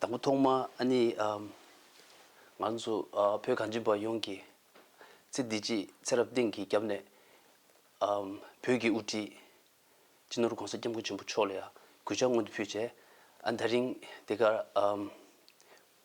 དང་པོ་ཐོག་མ་ནི། ང་ཚོ་བོད་གངས་ཅན་པ་ཡོངས་ཀྱིས་ཚེ་འདི་ཕྱིའི་ཚེ་རབས་གཏན་གྱི་རྒྱབ་ནས། བོད་ཀྱི་དབུ་ཁྲིད་སྤྱི་ནོར ྋགོང་ས ྋསྐྱབས་མགོན་ཆེན་པོ་མཆོག་ལ་ཡང་གུས་ཕྱག་སྔོན་དུ་ཕུལ་རྗེས། ད་རིང་འདི་གར།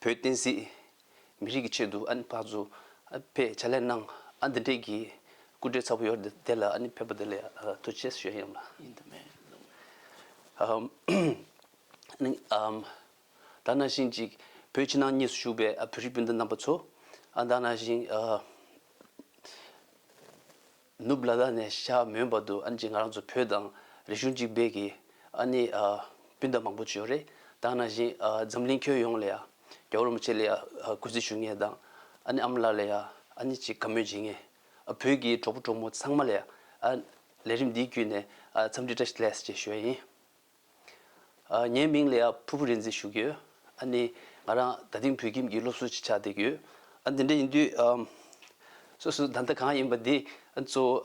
བོད་བསྟན་སྲིད། མི་རིགས་ཀྱི་ཆེད་དུ་ཨ་ནི་བག་ཛོ་པས་ཕྱག་ལས་གནང། ཨ་འདི་འདྲས་ཀྱི་སྐུ་བགྲེས་ཚ་བོ་ཡོར་དེ་ལ་ཨ་ནི་ཕེབས་པ་དེ་ལས་ཐུགས་ཆེས་ཞོད་ཡམ་ལ། ཡིན་དུ་མེད་ལུགས་མེད། ད་ནང་བཞིན་ཅིག་བོད་ཕྱི་ནང་གཉིས་སུ་བཞུགས་པའི་བོད་རིགས་སྤུན་ཟླ་རྣམ་པ་ཚོ། ད་ནང་བཞིན། ནུབ་ལ་ལ་ནས་ཤ་མོན་བར་དུ་ཨ་ནེ་ཅིག་ང་རང་ཚོ་བོད་དང་རིག་གཞུང་གཅིག་འབད་ཀྱི་ཨ་ནེ་སྤུན་ཟླ་མང་པོ་བྱོས་རེད་དང་ན་བཞིན་འཛམ་གླིང་ཁྱོན་ཡོངས་ལ་ཡ་རྒྱ་རོ་མ་ཆེ་ལ་ཡ་གུས་བརྩི་ཞུ་ངེས་དང་ཨ་ནེ་ཨ་མ་ལ་ལ་ཡ་ཨ་ནེ་ཅིག་དགའ་མོས་བྱེད་ངེས་བོད་ཀྱི་གྲོགས་པོ་གྲོགས་མོ་ཚང་མ་ལ་ཡ་ལས་རིམ་འདིའི་བརྒྱུད་ནས་འཚམས་འདྲི་བཀྲ་ཤིས་ལེས་ཞེས་ཞུ་བ་ཡིན། ངའི་མིང་ལ་ཡང་ཕུར་བུ་རེ་འཛིན་ཞུ་གི་ཡོད། ཨ་ནི། ང་རང་ད་དེང་བོད་ཁྱིམ་གྱི་སློབ་གསོ་ཅིག་ཆགས་བསྡད་ཀྱི་ཡོད། ཨ་འདི་འདྲ་ཡིན་དུས། སོ་སོའི་བདག་ལྟ་གང་ཡིན་པ་དེ་གཙོ་བོ་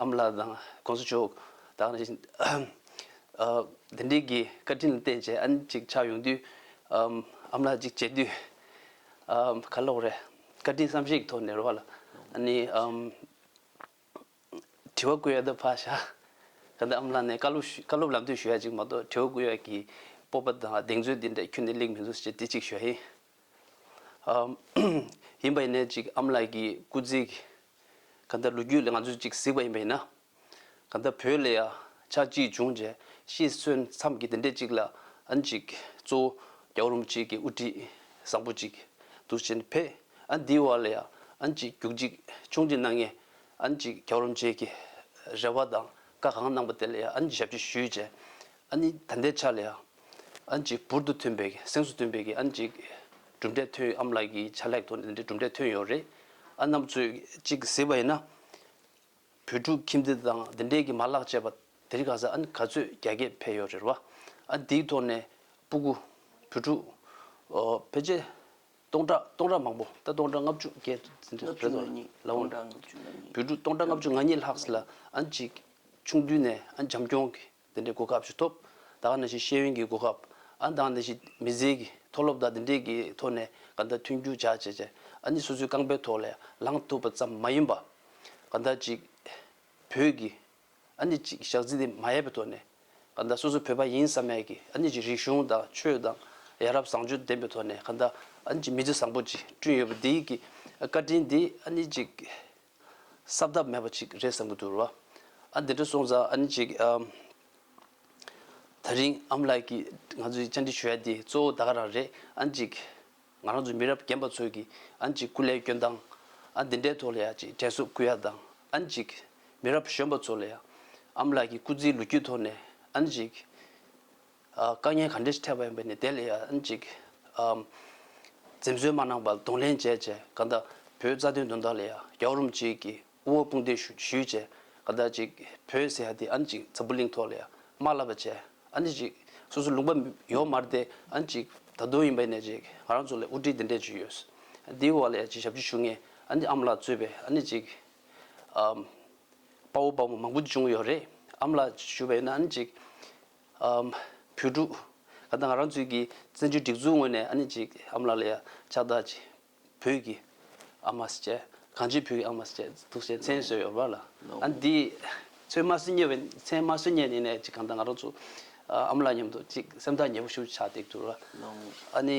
ཨ་མ་ལགས་དང་གོང་ས་མཆོག་དང། དེ་བཞིན་དེ་འདྲས་ཀྱི་བཀའ་དྲིན་ལ་བརྟེན་བྱས་ཨ་ནི་ཅིག་ཆགས་ཡོང་དུས། ཨ་མ་ལགས་ཅིག་བྱས་དུས། ག་ལོག་རེད། བཀའ་དྲིན་བསམ་ཤེས་ཀྱི་ཐོག་ནས་རོགས་ལ། ཨ་ནི། དྲི་བ་བཀོད་ཡག་ཏུ་ཕ་ཞག་ག་འདི་ཨམ་ལ་ནས་བཀའ་སློབ་བཀའ་སློབ་ལབ་དུས་ཞུ་ཡག་ཅིག་མ་གཏོགས་དྲི་བ་བཀོད་ཡག་གི་སྤོབས་པ་དང་གདེང་ཚོད་འདི་འདྲ་ཁྱོད་ནས་ལེགས་མི་འདུག་ཅེས་དྲི་གཅིག་ཞུ་ཡག་ཡིན། ཡིན་པ་ཡིན་ནའི་ཅིག་ཨམ་ལགས་ཀྱི་སྐུ་ཚིག་ག་འདི་ལོ་རྒྱུས་ལས་ང་ཚོས་ཅིག་གཟིགས་པ་ཡིན་པ་ཡིན་ན། ག་འདི་བོད་ལ་ཡང་ཆག་འཇིག་བྱུང་རྗེས་ཤི་གསོན་མཚམས་ཀྱི་འདི་འདྲས་ཅིག་ལ་ཨ་ཅིག་གཙོ་བོ་རྒྱ་གར་རུམ་གཅིག་གི་དབུ་ཁྲིད་བཟང་པོ་ཅིག་འདུག་ཅེས་ཕེ། ཨ་འདི་བ་ལ་ཡང་ཨ་ཅིག་རྒྱུག་ཅིག་ཆུང་ཅིག་གནང་ངས་ཨ་ཅིག་རྒྱག་རོ་མཇལ་གྱི་རེ་བ་དང་བཀའ་གང་གནང་པ་དེ་ལ་ཡང་ཨ་ཅིག་ཞབས་ཕྱི་ཞུས་རྗེས་ཨ་ནི་ད་ལྟའི་ཆ་ལ་ཡང་ཨ་ཅིག་བུར་དུ་ཐོན་པའི་སེམས་སུ་སྟོན་པའི་གི་ཨ་ཅིག་གྲུབ་འབྲས་ཐོན་ཡོད་ཨམ་ལགས་ཀྱི་ཆ་ལྷག་ཐོག་ནས་འདི་གྲུབ་འབྲས་ཐོན་ཡོད་རེད་ཨ་རྣམས་ཚོས་ཅིག་གཟིགས་པ་ཡིན་ན། བོད་ཕྲུག་ཁྱིམ་སྡེ་དང་འདི་འདྲས་གི་མ་ལག་བཅས་པ་དེ་རིགས་གང་ས་ཨ་ནི་ག་ཚོད་རྒྱ་སྐྱེད་འཕེལ་ཡོད་རེད་བ་ཨ་འདིའི་ཐོག་ནས་སྤུ་གུ་བོད་ཕྲུག་ཕལ་ཆེར། སྟོང་ཕྲག་སྟོང་ཕྲག་མང་པོ་ད་སྟོང་ཕྲག་ལྔ་བཅུ་བརྒྱད་དུ་འཛིན་དུ་གསོལ་ཏོ། ལའོ། བུ་ཕྲུག་སྟོང་ཕྲག་ལྔ་བཅུ་ང་གཉིས་ལྷགས་ལ་ཨ་ཅེ། ཆུང་དུས་ནས་ཨ་འཇམ་སྐྱོང་གི་འདི་འདྲའི་གོ་སྐབས་ཞིག་ཐོབ། ད་ག་ནས་ཤེས་ཤེས་ཡོན་གྱི་གོ་སྐབས་ཨ་མདང་ནས་ཤེས་མི་ཟེར་གི་མཐོ་སློབ་དག་འདི་འདྲའི་གི་ཐོག་ནས་ག་འདྲ་མཐུན་འགྱུར་བྱ་བྱས་བྱས་ཨ་ནི་སོ་སོའི་རྐང་པའི་ཐོག་ལས་ལངས་ཐུབ་པ་ཙམ་མ་ཡིན་པ། ག་འདྲ་ཅིག་བོད་ཀྱི་ཨ་ནི་ཅིག་ཞག་རྩིས་དེ་མ་ཡལ་བའི་ཐོག་ནས། ག་འདའ་སོ་སོ་བོད་པ་ཡིན་བསམ་མེད་ཀྱི་ཨ་ནི་ཅིག་རིག་གཞུང་དང་ཆོས་དང་ཡ་རབས་བཟང་སྤྱོད་ལྡན་པའི་ཐོག་ནས་ག་འདའ་ཨ་ནི་ཅིག་མི་ཚེ་བཟང་པོ་ཅིག་བསྐྲུན་ཡོད་པ་འདི་གི་བཀའ་དྲིན་འདི་ཨ་ནི་ཅིག་གསབ་ཐབས་མེད་པ་ཅིག་རེད་བསམ་གྱི་འདུག་ཨ་འདི་འདྲ་སོང་ཙང་ཨ་ནི་ཅིག་ད་རིང་ཨམ་ལགས་ཀྱིས་ང་ཚོའི་བཅར་འདྲི་ཞུ་ཡ་འདི་གཙོ་བོ་ད་ག་རང་རེད་ཨ་ནི་ཅིག། ང་རང་ཚོ་མི་རབས་རྒན་པ་ཚོས་ཀྱིས་ཨ་འཇིགས་སྐུ་ལས་སྐྱོན་དང། ཨ་འདི་འདྲའི་ཐོག་ལ་ཡང་ཅིག་དྲན་གསོ་སྐུལ་ཡ་དང་ཨ་འཇིགས། མི་རབས་གཞོན་པ་ཚོ་ལ་ཡང་ཨ་མ་ལགས་ཀྱི་སྐུ་ཚེའི་ལོ་རྒྱུས་ཐོག་ནས་ཨ་འཇིགས། དཀའ་ངལ་ག་འདྲས་ཞིག་འཕྲད་པ་ཡིན་པ་ནི་དེ་ལ་ཡང་ཨ་འཇིགས། འཛེམ་ཟོན་མ་གནང་བར་གདོང་ལེན་བྱས་བྱས་གང་ལྟ་བུའི་རྩ་དོན་དོན་དག་ལ་ཡང་རྒྱ་བོར་རུམ་ཅིག་གིས། དབུལ་བོ་དཔུང་སྡེ་ཞུས་བྱས། ཟླ་གཅིག་ཟེར་ཡ་དེ་ཨ་ནི་ཅིག་འཛམ་བུ་གླིང་ཐོག་ལ་ཡ་མ་བསླབ་པ་བྱས། ཨ་ནི་ཅིག་སོ་སོ་ལུང་པ་ཡོག་མར་དེ་ཨ་ནི་ཅིག་ད་དུང་ཡིན་པ་ནས་ཅིག་ང་རང་ཚོ་ལ་དབུ་ཁྲིད་འདི་འདྲས་ཅིག་ཡོད། དེའི་འོག་ལ་ཡ་ཅིག་ཞབས་ཕྱི་ཞུ་ངེས་ཨ་ནི་ཨ་མ་ལགས་གཙོས་པའི་ཨ་ནི་ཅིག་དཔའ་བོ་དཔའ་མོ་མང་པོ་ཅིག་བྱུང་ཡོད་རེད། ཨ་མ་ལགས་ཞུས་པ་ཡིན་ན་ཨ་ནི་ཅིག་བུ་ཕྲུག་ག་ད་ང་རང་ཚོའི་གི་བཙན་བྱོལ་སྒྲིག་འཛུགས་ངོས་ནས་ཨ་ནི་ཅིག་ཨ་མ་ལགས་ལ་ཡ་ཕྱག་དག་ཅིག་བོད་ཀྱི་ཨ་མ་སྐྱེས། གངས་ཅན་བོད་ཀྱི་ཨ་མ་སྐྱེས་འདུག་ཅེས་མཚན་གསོལ་ཡོད་པ་ལ། ཨ་ནི་དེའི་ཚོད་དམར་གསོད་རྙེད་པའི་མཚན་དམར་གསོད་རྙེད་ནས་ཅིག་གང་ལྟར་ང་རང་ཚོ་ཨ་མ་ལགས་མཉམ་དུ་ཅིག་སེམས་ཐག་ཉེ་པོ་ཞུ་ཆགས་འདེགས་འདུག་ལ། ཨ་ནི།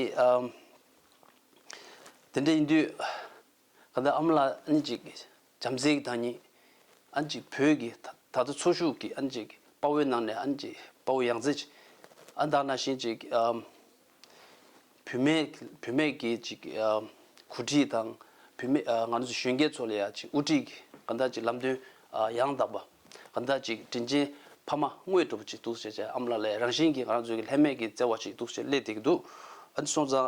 དེ་འདྲ་ཡིན་དུས། གང་ལྟར་ཨ་མ་ལགས་ཨ་ནི་ཅིག། བྱམས་བརྩེའི་བདག་ཉིད། ཨན་ཅིག་བོད་ཀྱི་ད་ལྟ་འཚོ་བཞུགས་ཀྱི་ཨན་ཅིག་དཔའ་བོའི་ནང་ནས་ཨན་ཅིག་དཔའ་བོ་ཡང་རྩེ། ཨ་མདའ་ན་ཤིན་ཅིག། བུད་མེད་བུད་མེད་ཀྱི་ཅིག་གོ་སྒྲིག་དང། བུད་མེད་ང་ཚོ་གཞོན་སྐྱེས་ཚོ་ལ་ཡང་ཅིག་དབུ་ཁྲིད་གང་འདྲ་ཅིག་ལམ་སྟོན་ཡང་དག་པ། གང་འདྲ་ཅིག་དྲིན་ཅན་ཕ་མ་དངོས་གྲུབ་ཅིག་འདུག་ཅེས་ཨ་མ་ལ་ལས་རང་བཞིན་གྱི་ང་རང་ཚོའི་ལྷད་མེད་ཀྱི་བརྩེ་བ་ཅིག་འདུག་ཅེས་སླད་དེ་གི་འདུག། ཨ་ཅེ་སོང་ཙང།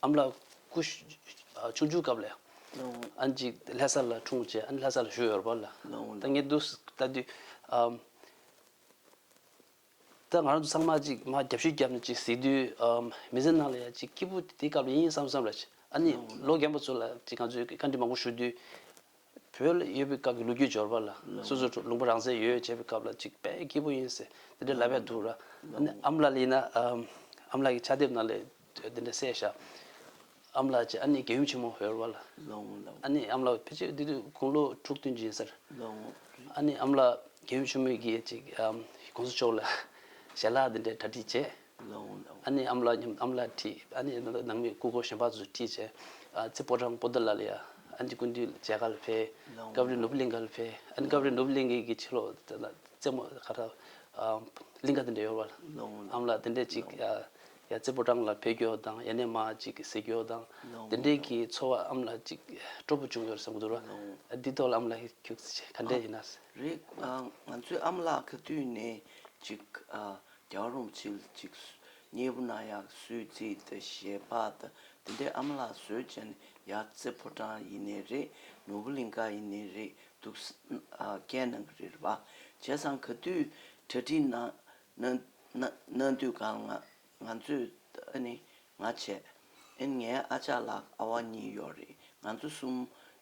ཨམ་ལགས། སྐུ། ཆུང་ཆུང་སྐབས་ལས། ཨན་ཅིག་ལྷ་ས་ལ་འཁྲུངས་རྗེས་ཨན་ལྷ་ས་ལ་བཞུགས་ཡོད་པ་ལ། ད་ངས་བསྡུ་ལྟ་དུས། ད་ང་རང་ཚོ་ཚང་མ་ཅིག་མ་རྒྱབ་ཤུལ་བརྒྱབ་ནས་ཅིག་གཟིགས་དུས། མི་ཚེ་ནང་ལ་ཡང་ཅིག་སྐྱིད་པོ་དེ་སྐབས་ལ་ཡིན་བསམ་བསམ་ལ། ཨ་ནི་ལོ་རྒན་པ་ཚོ་ལ་ཅིག་ང་ཚོས་བཀའ་འདྲི་མང་པོ་ཞུ་དུས། བོད་ལ་ཡོད་པའི་སྐབས་ཀྱི་ལོ་རྒྱུས་འབྱོར་པ་ལ་སོ་སོའི་ཁྲོད་ལུང་པ་རང་བཙན་ཡོད་ཡོད་བྱས་པའི་སྐབས་ལ་གཅིག་དཔལ་སྐྱིད་པོ་ཡིན་ཟེར་དེ་འདྲའི་ལབ་ཡ་འདུག་ར། ཨ་མ་ལགས་ལ་ཡིན་ན་ཨ་མ་ལགས་ཀྱི་ཕྱག་དེབ་ནང་ལས་དེ་འདྲ་གསལ་བཞག་ཨ་མ་ལགས་ཀྱི་ཨ་ནེ་དགེ་འོས་ཆེན་མོ་ཧོལ་བ་ལ་ཨ་ནེ་ཨ་མ་ལགས་ཕལ་ཆེར་དེ་དུས་དགུང་ལོ་དྲུག་བདུན་ཅན་ཟེར། ཨ་ནེ་ཨ་མ་ལགས་དགེ་འོས་ཆེན་མོ་གིས་ཅིག་གོང་ས་མཆོག་ལ་ཞལ་ལག་དེ་འདྲའི་གྲ་སྒྲིག་བྱས། ཨ་ནེ་ཨམ་ལ་སྙམ་ཨམ་ལ་བྲིས། ཨ་ནེ་ནང་མི་སྐུ་གོ་གཞོན་པ་ཚོས་བྲིས། ཚེ་སྤོ་དྲང་པོ་འདི་ལ་ལ་ཡ། ཨ་ནེ་ཀུན་འདུས་ལྗགས་གར་འཕེལ། ཀ་བརི་ནུབ་གླིང་གར་འཕེལ། ཨ་ནེ་ཀ་བརི་ནུབ་གླིང་གི་ཕྱི་ལོགས་ན། རྩེ་མོ་ཁ་ཐག་གླིང་ཁ་དེ་འདྲས་ཡོད་པ། ཨམ་ལ་དེ་འདྲས་ཅིག་ཡ། ཚེ་སྤོ་དྲང་ལ་འཕེལ་གྱོ་དང་ཡ་ནེ་མ་ཅིག་ཟེར་གྱོ་དང། དེ་འདྲས་ཀྱི་འཚོ་བ་ཨམ་ལ་ཅིག་སྤྲོ་པོ་བྱུང་ཡོད་ཟེར་གྱི་འདུག་ར། འདི་ཐོག་ལ་ཨམ་ལ་ཁྱོད་ག་འདྲས་ཡིན་ན། རེད། ང་ཚོས་ཨམ་ལ་ག་དུས་ནས་ཅིག་རྒྱག་རུང་ཚིལ་ཅིག་རྙེད་པོ་ན་ཡག་སུས་བརྩིས་ཏེ་ཞེས་པ་དང་དེ་འདྲའི་ཨ་མ་ལགས་བཟོས་བྱས་ནས་ཡག་རྩེ་ཕོ་བྲང་ཡིན་ནི་རེད་ནོར་བུ་གླིང་ཁ་ཡིན་ནི་རེད་འདུག་སྐད་ནང་གི་རེད་བ་བྱས་ཙང་ག་དུས་གྲ་སྒྲིག་གནང་དུས་གང་ང་ཚོས་ཨ་ནི་ང་བྱས། ཨེན་ངའི་ཨ་ཅག་ལགས་ཨ་བ་གཉིས་ཡོད་རེད་ང་ཚོ་གསུམ་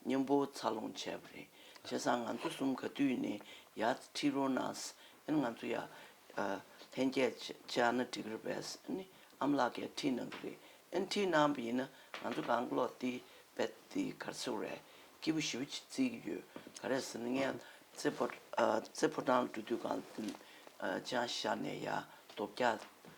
མཉམ་པོ་འཚར་ལོངས་བྱས་པ་རེད་བྱས་སང་ང་ཚོ་གསུམ་ག་དུས་ནས་ཡ་ཁྲི་རོ་ནས་ཨེན་ང་ཚོ་ཡ་ལྷན་རྒྱས་ཆེ་ཨ་ན་འགྲིག་རེད་བས་ཨེན་ཨམ་ལགས་ཀས་ཁྲི་ནང་གི་རེད་ཨེན་ཁྲི་ནང་པ་ཡིན་ན་ང་ཚོ་གང་ཀློག་བལྟས་བལྟས་དེ་གར་ཚེ་རལ་སྐྱིད་པོ་ཞིབ་རྩིས་ཀྱི་ཡོད་ག་རེད་ཟེར་ན་ངས་རྩེ་ཕོ་བྲང་འགྲོ་དུས་གང་དུས་ཅང་ཤར་ནས་ཡ་རྡོ་བརྒྱག་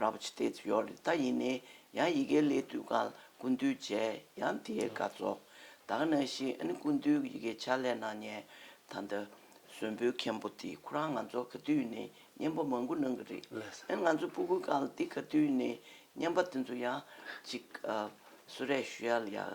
ར་བ་ཆི་ཏེས་ཡོ་རི་ད་ཡིན་ནི་ཡང་ཡི་གེ་ལས་དུས་གང་ལ་ཀུན་འདུས་བྱས་ཡང་དེའི་དགའ་ཚོགས་དག་ན་ཤིང་ཨ་ནི་ཀུན་འདུས་ཀྱི་ཡི་གེ་ཆ་ལས་སྣང་བརྙན་ད་ལྟ་གཟོན་བུའི་མཁན་པོ་འདི་ཁོ་རང་ང་ཚོ་ག་དུས་ནས་བརྙན་པ་མང་པོ་གནང་གི་རེད་ཨ་ནི་ང་ཚོ་སྤུ་གུ་གང་ལ་འདི་ག་དུས་ནས་བརྙན་པ་དེ་ཚོ་ཡང་ཅིག་གསོལ་རས་ཞུ་ཡ་ལ་ཡག།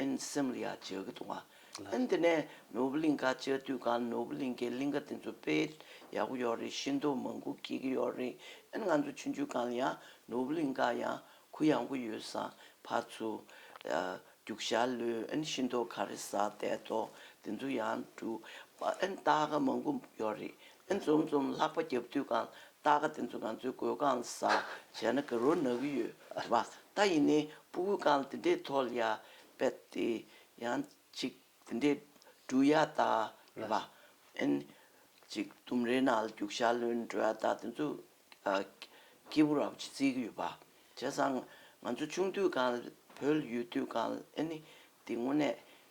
ཨིན། སེམས་ལ་ཡ་བྱེད་ཀྱི་འདུག་ཨིན། དེ་ནས་ནོར་བུ་གླིང་ཁར་ཆས་དུས་གང་ནོར་བུ་གླིང་གི་གླིང་ཁ་དེ་ཚོ་དཔེ་ཡག་པོ་ཡོད་རེད་ཤིན་ཏུ་མང་གུ་སྐྱིད་ཀྱི་ཡོད་རེད་ཨིན་ང་ཚོ་ཆུང་ཆུང་གང་ལ་ཡང་ནོར་བུ་གླིང་ཁར་ཡང་གུ་ཡང་གུ་ཡོད་བསམ་ཕར་ཚུར་རྒྱུག་ཞག་ལོས་ཨིན་ཤིན་ཏུ་ག་རེ་ཟ་དད་དོ་དེ་ཚོ་ཡང་འགྲུབ་ཨིན་སྟག་མང་གུ་ཡོད་རེད་ཨིན་འཛོམས་འཛོམས་ལྷག་པ་རྒྱབ་དུས་གང་རྟ་ཁ་དེ་ཚོ་ང་ཚོའི་གོས་གང་ལ་ཟ་བྱས་ན་ག་རོ་ནག་གི་ཡོད་བ་ད་ཡིན་ནའི་སྤུ་གུ་གང་ལ་དེ་འདྲས་ཐོག་ལ་ཡར་བད་དེ་ཡང་ཅིག་དེ་འདྲས་འབྲུ་ཡར་བཏགས་རེད་བ་ཨན། ཅིག་ལྡུམ་རའི་ནང་ལ་རྒྱུག་ཤ་ལོན་འབྲུ་ཡར་བཏགས་དེ་ཚོ་སྐྱེས་བུ་ར་བ་ཅིག་བརྩིས་ཀྱི་ཡོད་བ་བྱས་ཙང་ང་ཚོ་ཆུང་དུས་གང་ལ་བོད་ལ་ཡོད་དུས་གང་ལ་ཨན། དེ་དངོས་གནས་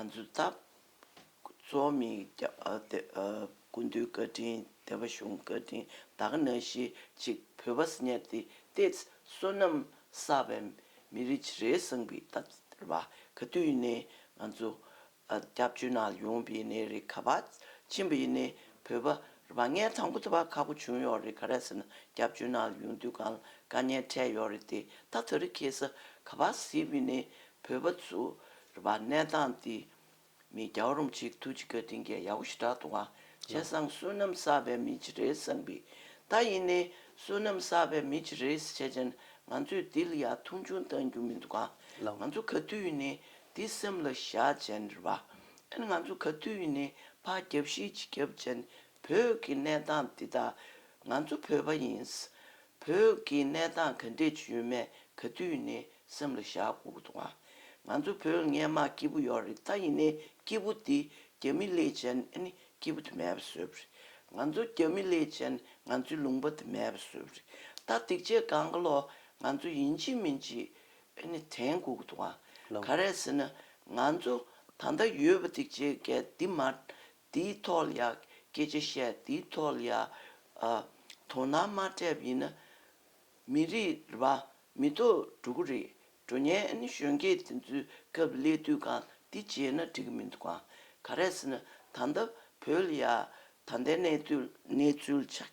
ང་ཚོའི་འཐབ་རྩོད་མི་དགུ་འདུལ་བཀའ་དྲིན་བདེ་བ་གཞུང་བཀའ་དྲིན་བདག་ན་ཤི་ཅིག་བོད་པ་སྙ་ཏི་ཏེ་བསོད་ནམས་བསགས་པའི་མི་རེ་ཅི་རེའི་བསང་བི་བཏབ་ཟེར་བ་ག་དུས་ཡིན་ནའི་ང་ཚོ་སྐྱབས་བཅོལ་ནང་ཡོང་བི་ཡིན་ནའི་རེད་ག་བ་ཕྱིན་པ་ཡིན་ནའི་བོད་པ་རེད་བ་ངའི་དང་པོ་ད་བར་ཁག་པོ་བྱུང་ཡོག་རེད་ག་རེད་ཟེར་ན་སྐྱབས་བཅོལ་ནང་ཡོང་དུས་གང་ལ་དཀའ་ཉེན་འཕྲད་ཡོག་རེད་དེ་ད་ད་རི་ཁེ་ས་ག་བ་ཟིག་བི་ནའི་བོད་པ་ཚོ་རེད་པ་གནས་སྟངས་འདི་མི་རྒྱ་རོམ་ཅིག་ཐུགས་རྗེ་བཀའ་དྲིན་རྒྱལ་ཡག་པོ་ཞེ་དྲག་དུ་བ་ཆེན་བཟང་བསོད་ནམས་བསགས་པའི་མི་ཅི་རེད་བསམ་པི་ད་ཡིན་ནའི་བསོད་ནམས་བསགས་པའི་མི་ཅི་རེད་བྱས་ཅན་ང་ཚོས་འདི་ལ་ཡག་ཐུང་ཆུང་བཏང་རྒྱུ་མི་འདུག་ང་ཚོ་ག་དུས་ཡིན་ནའི་འདི་སེམས་ལ་བཞག་ཅན་རེད་པ་ཨན་ང་ཚོ་ག་དུས་ཡིན་ནའི་ཕ་རྒྱབ་གཞིས་བྱིས་རྒྱབ་ཅན་བོད་ཀྱི་གནས་སྟངས་འདི་དག་ང་ཚོ་བོད་པ་ཡིན་བོད་ཀྱི་གནས་སྟངས་ག་འདྲས་བྱུས་མེད་ག་དུས་ནས་སེམས་ལ་བཞག་དགོས་ཏུ་བ། ང་ཚོ་བོད་ངན་དམག་སྐྱིད་པོ་ཡོག་རེད་ད་ཡིན་ནའི་སྐྱིད་པོ་འདི་རྒྱ་མི་ལས་ཅན་ནས་སྐྱིད་པོ་དུ་མེད་པ་བཟོས་པ་རེད་ང་ཚོ་རྒྱ་མི་ལས་ཅན་ནས་ང་ཚོའི་ལུང་པ་དུ་མེད་པ་བཟོས་པ་རེད་ད་སྡིག་ཆས་གང་ག་ལོག་ང་ཚོ་ཡིན་ཅི་མིན་ཅི་ནས་དྲན་དགོས་ཏུ་བ། ག་རེད་ཟེར་ན་ང་ཚོ་ད་ལྟ་ཡོད་པ་སྡིག་ཆས་འགས་འདི་མ་འདིའི་ཐོག་ལ་ཡང་སྐད་ཆ་བཤད་འདིའི་ཐོག་ལ་ཡང་དོ་སྣང་མ་སྤྲད་པ་ཡིན་ན། མི་རིགས་ར་མི་ཐོག་འགྲོ་གི་རེད་འགྲོ་ཉན་གཞོན་སྐྱེས་དེ་ཚོའི་སྐབས་སླད་དུས་གང་འདི་བྱས་ན་འགྲིག་གི་མི་འདུག་གང་ག་རེད་ཟེར་ན་ད་ལྟ་བོད་ལ་ཡང་ད་ལྟའི་གནས་ཚུལ་ཆགས་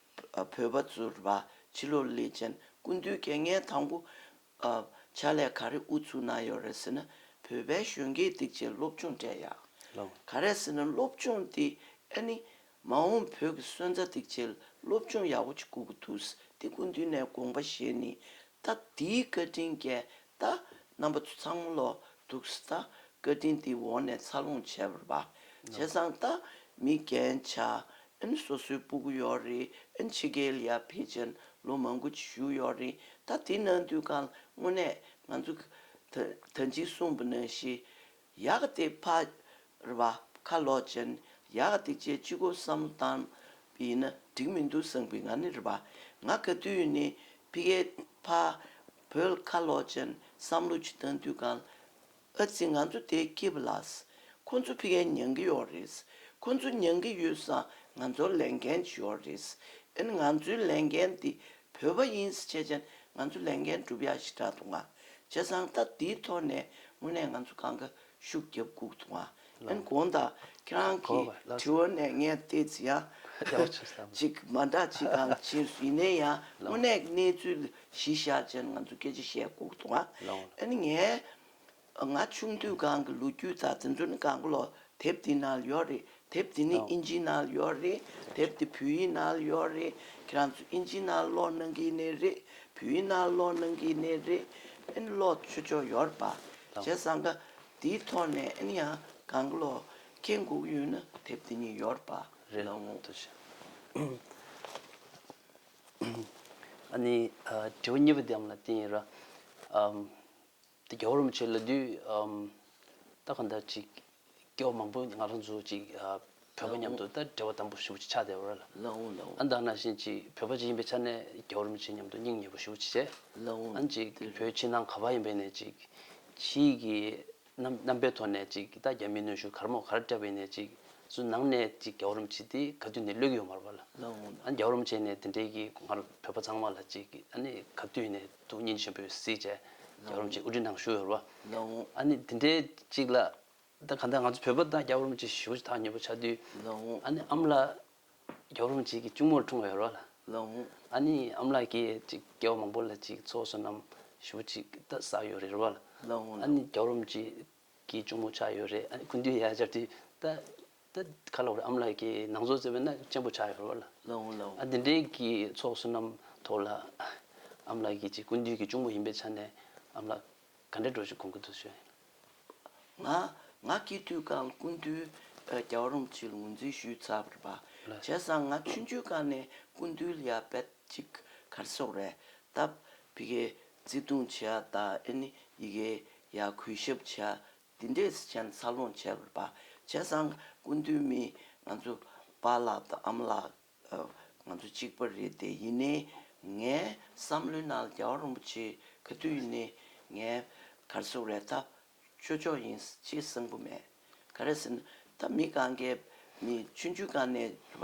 བོད་པ་ཚུར་བ་ཕྱི་ལོག་སླེ་ཅན་ཀུན་བཏུས་སྐད་ངན་དང་པོ། བྱ་ལས་ག་རེ་ཨུ་ཚུགས་གནང་ཡོད་རེད་ཟེར་ན་བོད་པའི་གཞོན་སྐྱེས་སྡིག་ཆེན་སློབ་ཆུང་གྲས་ཡག་ག་རེད་ཟེར་ན་སློབ་ཆུང་འདི་ཨ་ནི། མ་འོངས་བོད་ཀྱི་སོན་རྩ་སྡིག་ཆེལ་སློབ་ཆུང་ཡག་པོ་ཅིག་དགོས་ཀྱི་འདུག་སྟེ་ཀུན་བཏུས་ནས་དགོངས་པ་བཞེས་ནི་ད་འདིའི་བཀའ་དྲིན་རྒྱས་གདའ། རྣམ་པ་ཚང་མ་ལོ་དུག་ཟ། བཀའ་དྲིན་འདི་འོག་ནས་འཚར་ལོངས་བྱས་པར་བ། བྱས་ཙང་ལྟ། མི་རྒན་བྱ། ཨན་སོ་སོའི་སྤུ་གུ་ཡོག་རི་ཨན་ཕྱི་རྒྱལ་ཡ་ཕི་ཅན་ལོ་མང་གུ་ཅི་བཞུགས་ཡོག་རི་ད་འདི་ན་འདུས་ཁང་དངོས་གནས་ང་ཚོ། ད་འཇིགས་གསུང་བ་ན་ཤི། ཡག་སྟེ་ཕར་ར་བ་ཁ་ལོག་ཅན་ཡག་སྟེ་བཅས་སྤྱི་སྒོ་བསམ་བཏང་ཡིན་ན་འགྲིག་མི་འདུག་སངས་པི་ང་ནི་ར་བ་ང་ག་དུས་ནི་ཕི་གའི་ཕ་བོལ་ཁ་ལོག་ཅན་བསམ་བློ་ཅི་བཏང་དུས་གང་ཨ་ཙི་ང་ཚོ་དེ་སྐྱིད་པ་ལགས་ཁོ་ཚོ་ཕི་གའི་མྱང་གི་ཡོག་རེད་ཁོ་ཚོ་མྱང་གི་ཡོད་ས་ང་ཚོར་ལས་འགན་ཅི་ཡོག་རེད་ཨན་ང་ཚོའི་ལས་འགན་དེ་བོད་པ་ཡིན་ས་ཆད་ཅན་ང་ཚོ་ལས་འགན་སྒྲུབ་ཡག་ཞི་དྲག་ཏུ་ང། བྱས་ཙང་ད་འདིའི་ཐོག་ནས་དངོས་གནས་ང་ཚོ་གང་དགའ་ཤུགས་རྒྱབ་ཁུག་ཐུབ་ཨང། ཡང་གོང་དང་ཁྱེད་རང་གི་དྲི་བ་ནས་ངས་བལྟས་ཚེ་ཡང་ཅིག་མ་འདྲ་ཅིག་གང་ཅི་ཡིན་ནའི་ཡང་དངོས་གནས་ཀྱི་གནས་ཚུལ་གཞི་བཞག་ཅན་ང་ཚོས་སྐད་ཆ་བཤད་ཁུག་ཐུབ་ཨང། ཡང་ངས་ང་ཆུང་དུས་གང་གི་ལོ་རྒྱུས་དང་དེ་ཚོ་ནི་གང་ལོ་དེབ་འདི་ནང་ལ་ཡོད་རེད་དེབ་འདི་ནི་ཨིན་ཇི་ནལ་ཡོད་རེད་དེབ་འདི་བོད་ཡིག་ནལ་ཡོད་རེད་ཁྱེད་རང་ཚོ་ཨིན་ཇི་ནལ་ཀློག་གནང་གི་ནི་རེད་བོད་ཡིག་ནལ་ཀློག་གནང་གི་ནི་རེད་ཨན་ཀློག་ཆོད་ཆོག་ཡོད་པ་བྱས་བསམ་ག་འདིའི་ཐོག་ནས་ཨན་ཡང་གང་ཀློག་ཁྱེད་སྒུག་ཡོད་ན་དེབ་འདི་ཉིད་ཡོད་པ་གནང་ངོ། ཨ་ནི་དྲི་བ་གཉིས་པ་དེའམ་ལ་དེ་ཡིན་ར། དེ་རྒྱ་བོར་མི་བྱེད་ལ་དུས་ད་ག་འདྲ་ཅིག་སྐྱོ་བོ་མང་པོས་ང་རང་ཚོ་ཅིག་བོད་པ་མཉམ་དུ་ད་འབྲེལ་བ་དམ་པོ་ཞུ་བ་ཅིག་ཆགས་བསྡད་པ་རེད། ཨ་འདང་ན་བཞིན་ཅིག་བོད་པ་ཅིག་ཡིན་པའི་ཆ་ནས་རྒྱ་བོར་མི་བྱེད་མཉམ་དུ་སྙིང་ཉེ་བོ་ཞུ་བ་ཅིག་བྱས། ཨང་ཅིག་བོད་ཕྱི་ནང་ག་བ་ཡིན་པའི་ནས་ཅིག་ཕྱི་ཡི་གི་རྣམ་པའི་ཐོག་ནས་ཅིག་ད་རྒྱ་མིའི་གནོན་ཤུགས་གར་མོ་གར་སྤྲད་པ་ཡིན་ནས་ཅིག་སུ་ནང་ནས་ཅིག་རྒྱ་བོར་མི་བྱེད་དེ་ག་དུས་ནས་གློད་ཀྱི་ཡོད་མ་རེད་པ་ལ། ཨང་རྒྱ་བོར་མི་བྱེད་ནས་དེ་འདྲའི་གི་ང་རང་བོད་པ་ཚང་མ་ལ་ཅིག་ཨ་ནི་ག་དུས་ནས། དུག་སྙིང་ཆེན་པོའི་སྲིད་ཅེས་རྒྱ་གོར་རོམ་གྱི་དབུ་ཁྲིད་ནང་ཞུ་ཡོད་རོ། ཨ་ནི་དེ་འདྲའི་ཅིག་ལ། ད་ག་འདྲ་ང་ཚོ་བོད་པ་དང་རྒྱ་གོར་རོམ་གྱི་ཞི་བོ་ཆེ་ཐག་ཉེ་པོ་ཆགས་དུས། ཨ་ནི་ཨམ་ལགས། རྒྱ་གོར་རོམ་གྱི་གི་གཅུང་མོར་འཁྲུངས་ཡོད་རོ། ཨ་ནི་ཨམ་ལགས་ཀྱིས་ཅིག་སྐྱེ་བ་མང་པོ་ལ་ཅིག་ཚོགས་བསོད་ནམས་ཞི་བོ་ཅིག་ད་བསགས་ཡོད་རེད་རོ། ཨ་ནི་རྒྱ་གོར་རོམ་གྱི་གི་གཅུང་མོ་ཆགས་ཡོད་རེད་ཨ་ནི་ཁུ་འདུས་ཡར་སྦྱར་དུས་ད། དེ་ག་ལ་བར་ཨམ་ལགས་ཀྱིས་ནང་ཚོགས་བརྩེ་བའི་སྣ་གཅན་པོ་ཆགས་ཡོད་རོགས་ལ། འདི་འདྲའི་གི་ཚོགས་བསོད་ནམས་ཐོག་ལ། ཨམ་ལགས་ཀྱིས་ཅིག་ཀུན་འདུས་ཀྱི་གཅུང་པོ་ཡིན་པའི་ཆ་ནས་ཨམ་ལགས་ག་འདྲས་འགྲོ་ཞིག་གོང་གི་དུ་ཤོད། ང་ང་སྐྱེས་དུས་སྐང་ཀུན་འདུས་རྒྱ་བ་རོམ་ཕྱིར་ངོས་འཛིན་ཞུས་ཚར་བ་བྱས་སང་ང་ཆུན་ཆུན་སྐང་ནས་ཀུན་འདུས་ལ་ཡར་བད་ཅིག་གར་སོག་རེད་སྟབས་བི་གའི་བརྩེ་དུང་བྱས་ཨ་ད་ཨེ་ནི་ཡི་གའི་ཡར་གུས་ཞབས་བྱས་འདི་འདྲའི་གཟི་བྱིན་འཚར་ལོངས་བྱས་པར་བ་བྱེད་སང་སྐུ་མདུན་མི་ང་ཚོ་པ་ལགས་དང་ཨམ་ལགས་ང་ཚོ་གཅིག་པ་རེད་དེ་ཡིན་ནའི་ངའི་བསམ་བློའི་ནང་ལ་རྒྱལ་བ་རོན་པོ་ཆེའི་ག་དུས་ཡིན་ནའི་ངའི་གར་སོགས་རེ་ད་ཆོས་ཕྱོགས་ཡིན་ཅེས་གསང་པོ་མེད་ག་རེ་ཟེར་ན་ད་མི་གང་གའི་མི་ཆུང་ཆུང་གང་ནས་བ་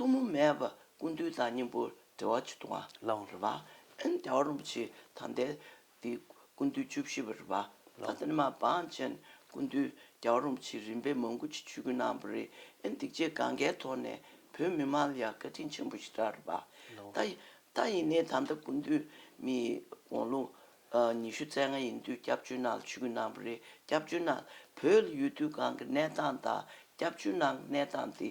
ཐུགས་མུ་མེད་པར་ཀུན་འདུས་དང་སྙིང་པོ་འབྲེལ་བ་ཆུ་དང་ལའང་རོལ་པ། ཨན་རྒྱ་བ་རིན་པོ་ཆེའི་དམ་རྟེན་འདི་ཀུན་འདུས་བཅུ་བཞི་པར་རོལ་པ། ད་ཐེངས་མ་འབངས་ཅན་ཀུན་འདུས་རྒྱ་བ་རིན་པོ་ཆེའི་རིམ་པའི་མང་ཀུན་གྱི་ཆོས་ཀུན་སྣང་བ་རི་ཨན་སྡིག་ཆེ་གངྒཱའི་ཐོག་ནས་བོད་མི་མང་ལ་ཡང་བཀའ་དྲིན་ཆེན་པོ་ཞིག་གྲགས་རོལ་པ། ད་ཡིན་ནའི་དམ་རྟ་ཀུན་འདུས་མི་ཡི་དགོངས་ལུང། ཉི་ཤུ་རྩ་ལྔ་ཡིན་དུས་སྐྱབས་ཆོས་སྣང་ལ་ཆོས་ཀུན་སྣང་བ་རི་སྐྱབས་ཆོས་སྣང། བོད་ལ་ཡོད་དུས་གང་གི་གནས་སྟངས་དང་སྐྱབས་ཆོས་སྣང་གི་གནས་སྟངས་འདི།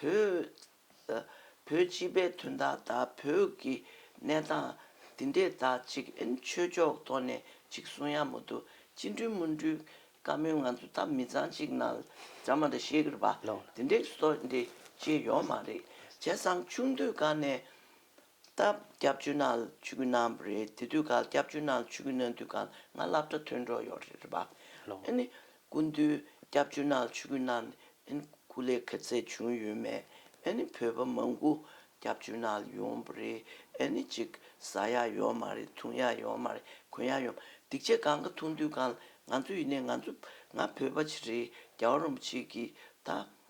བོད། བོད་སྤྱི་པའི་དོན་དག་དང་བོད་ཀྱི་གནས་སྟངས་འདི་འདྲས་དག་ཅིག་ཨེན་ཆོས་ཕྱོགས་ཐོག་ནས་ཅིག་གསུང་ཡག་མོ་འདུག་སྤྱི་འགྲོས་མུན་འགྲུས་བཀའ་མོལ་ང་ཚོ་ད་མི་ཚང་ཅིག་ན་ཛམ་མ་འདྲ་ཤེས་གི་རེད་པ་འདི་འདྲས་སོ་འདྲས་ཅིག་ཡོག་མ་རེད་བྱས་སང་ཆུང་དུས་ག་ནས་ད་སྐྱབས་བཅོལ་ན་ཆུ་གུ་ན་རེད་དེ་དུས་ག་སྐྱབས་བཅོལ་ན་ཆུ་གུ་ན་དུས་ག་ང་སླབ་གྲ་ཐོན་འགྲོ་ཡོག་རེད་པ་ཨེ་ནི་སྐུ་མདུན་སྐྱབས་ཆུ་ནག་ཆུ་ཀུན་ནག་ནི་སྐུ་ལས་ཁ་ཚད་བྱུང་ཡོད་མེད་ནི་བོད་པ་མང་པོ་སྐྱབས་ཆུ་ནག་ལ་ཡོང་པོ་རེད་ནི་ཅིག་ཟ་ཡག་ཡོག་མ་རེད་འཐུང་ཡག་ཡོག་མ་རེད་གོན་ཡག་ཡོག་མ་རེད་སྡིག་ཆེ་གང་ག་འཐུང་དུས་གང་ལ་ང་ཚོ་ཡིན་ནའི་ང་ཚོ་ང་བོད་པ་ཆེ་རེད་རྒྱ་བ་རོམ་པ་ཆེ་གིས་ད།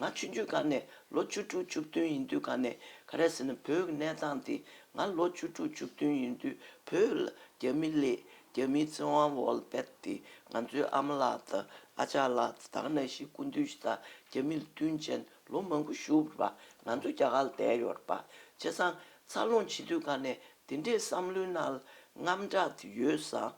ང་ཆུང་དུས་སྐབས་ནས་ལོ་བཅུ་དྲུག་བཅུ་བདུན་ཡིན་དུས་ག་ནས་ག་རེ་ཟེར་ན་བོད་ཀྱི་གནས་སྟངས་འདི་ང་ལོ་བཅུ་དྲུག་བཅུ་བདུན་ཡིན་དུས་བོད་ལ་རྒྱ་མི་གླེས་རྒྱ་མིའི་བཙན་དབང་བོལ་བེད་དེ་ང་ཚོའི་ཨ་མ་ལགས་དང་ཨ་ཅག་ལགས་དང་ནང་བཞིན་སྐུ་མདུན་ཞིག་དང་རྒྱ་མི་ལ་དུས་ཆེན་ལོ་མང་པོ་བཞུགས་པ་ང་ཚོ་རྒྱ་གར་ལ་བསྡད་ཡོད་པ་བྱས་ཙང་འཚར་ལོངས་བྱེད་དུས་ག་ནས་འདི་འདྲའི་བསམ་བློའི་ནང་ལ་རྔམ་དྲག་དེ་ཡོད་ཙང་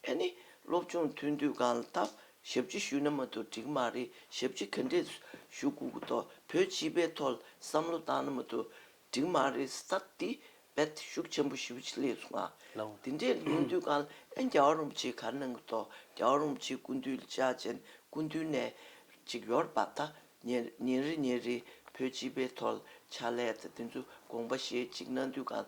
ཨ་ནི་སློབ་ཆུང་ཐོན་དུས་གང་ལ་ཐབས་ཞབས་ཕྱི་ཞུས་ན་མ་ཐུག་འགྲིག་མ་རེད་ཞབས་ཕྱི་ག་འདྲས་ཞུ་དགོས་གི་ཐོག་བོད་སྤྱི་པའི་ཐོག་ལ་བསམ་བློ་བཏང་ན་མ་ཐུག་འགྲིག་མ་རེད་ས་འདི་བེད་ཤུགས་ཆེན་པོ་ཞུ་ཆེད་ལས་སུ་ང་དེ་འདྲས་ལོན་དུས་གང་ལ་ཨ་རྒྱ་བ་རོང་པོ་ཆེ་ག་གནང་གི་ཐོག་རྒྱ་བ་རོང་པོ་ཆེ་སྐུ་མདུན་ལྕགས་ཅན་སྐུ་མདུན་ནས་ཅིག་ཡོར་བབས་ད་ཉིན་རེ་ཉིན་རེའི་བོད་སྤྱི་པའི་ཐོག་ལ་ཕྱག་ལས་དང་དེ་ཚོའི་དགོངས་པ་བཞེས་ཅིག་གནང་དུས་གང་ལ་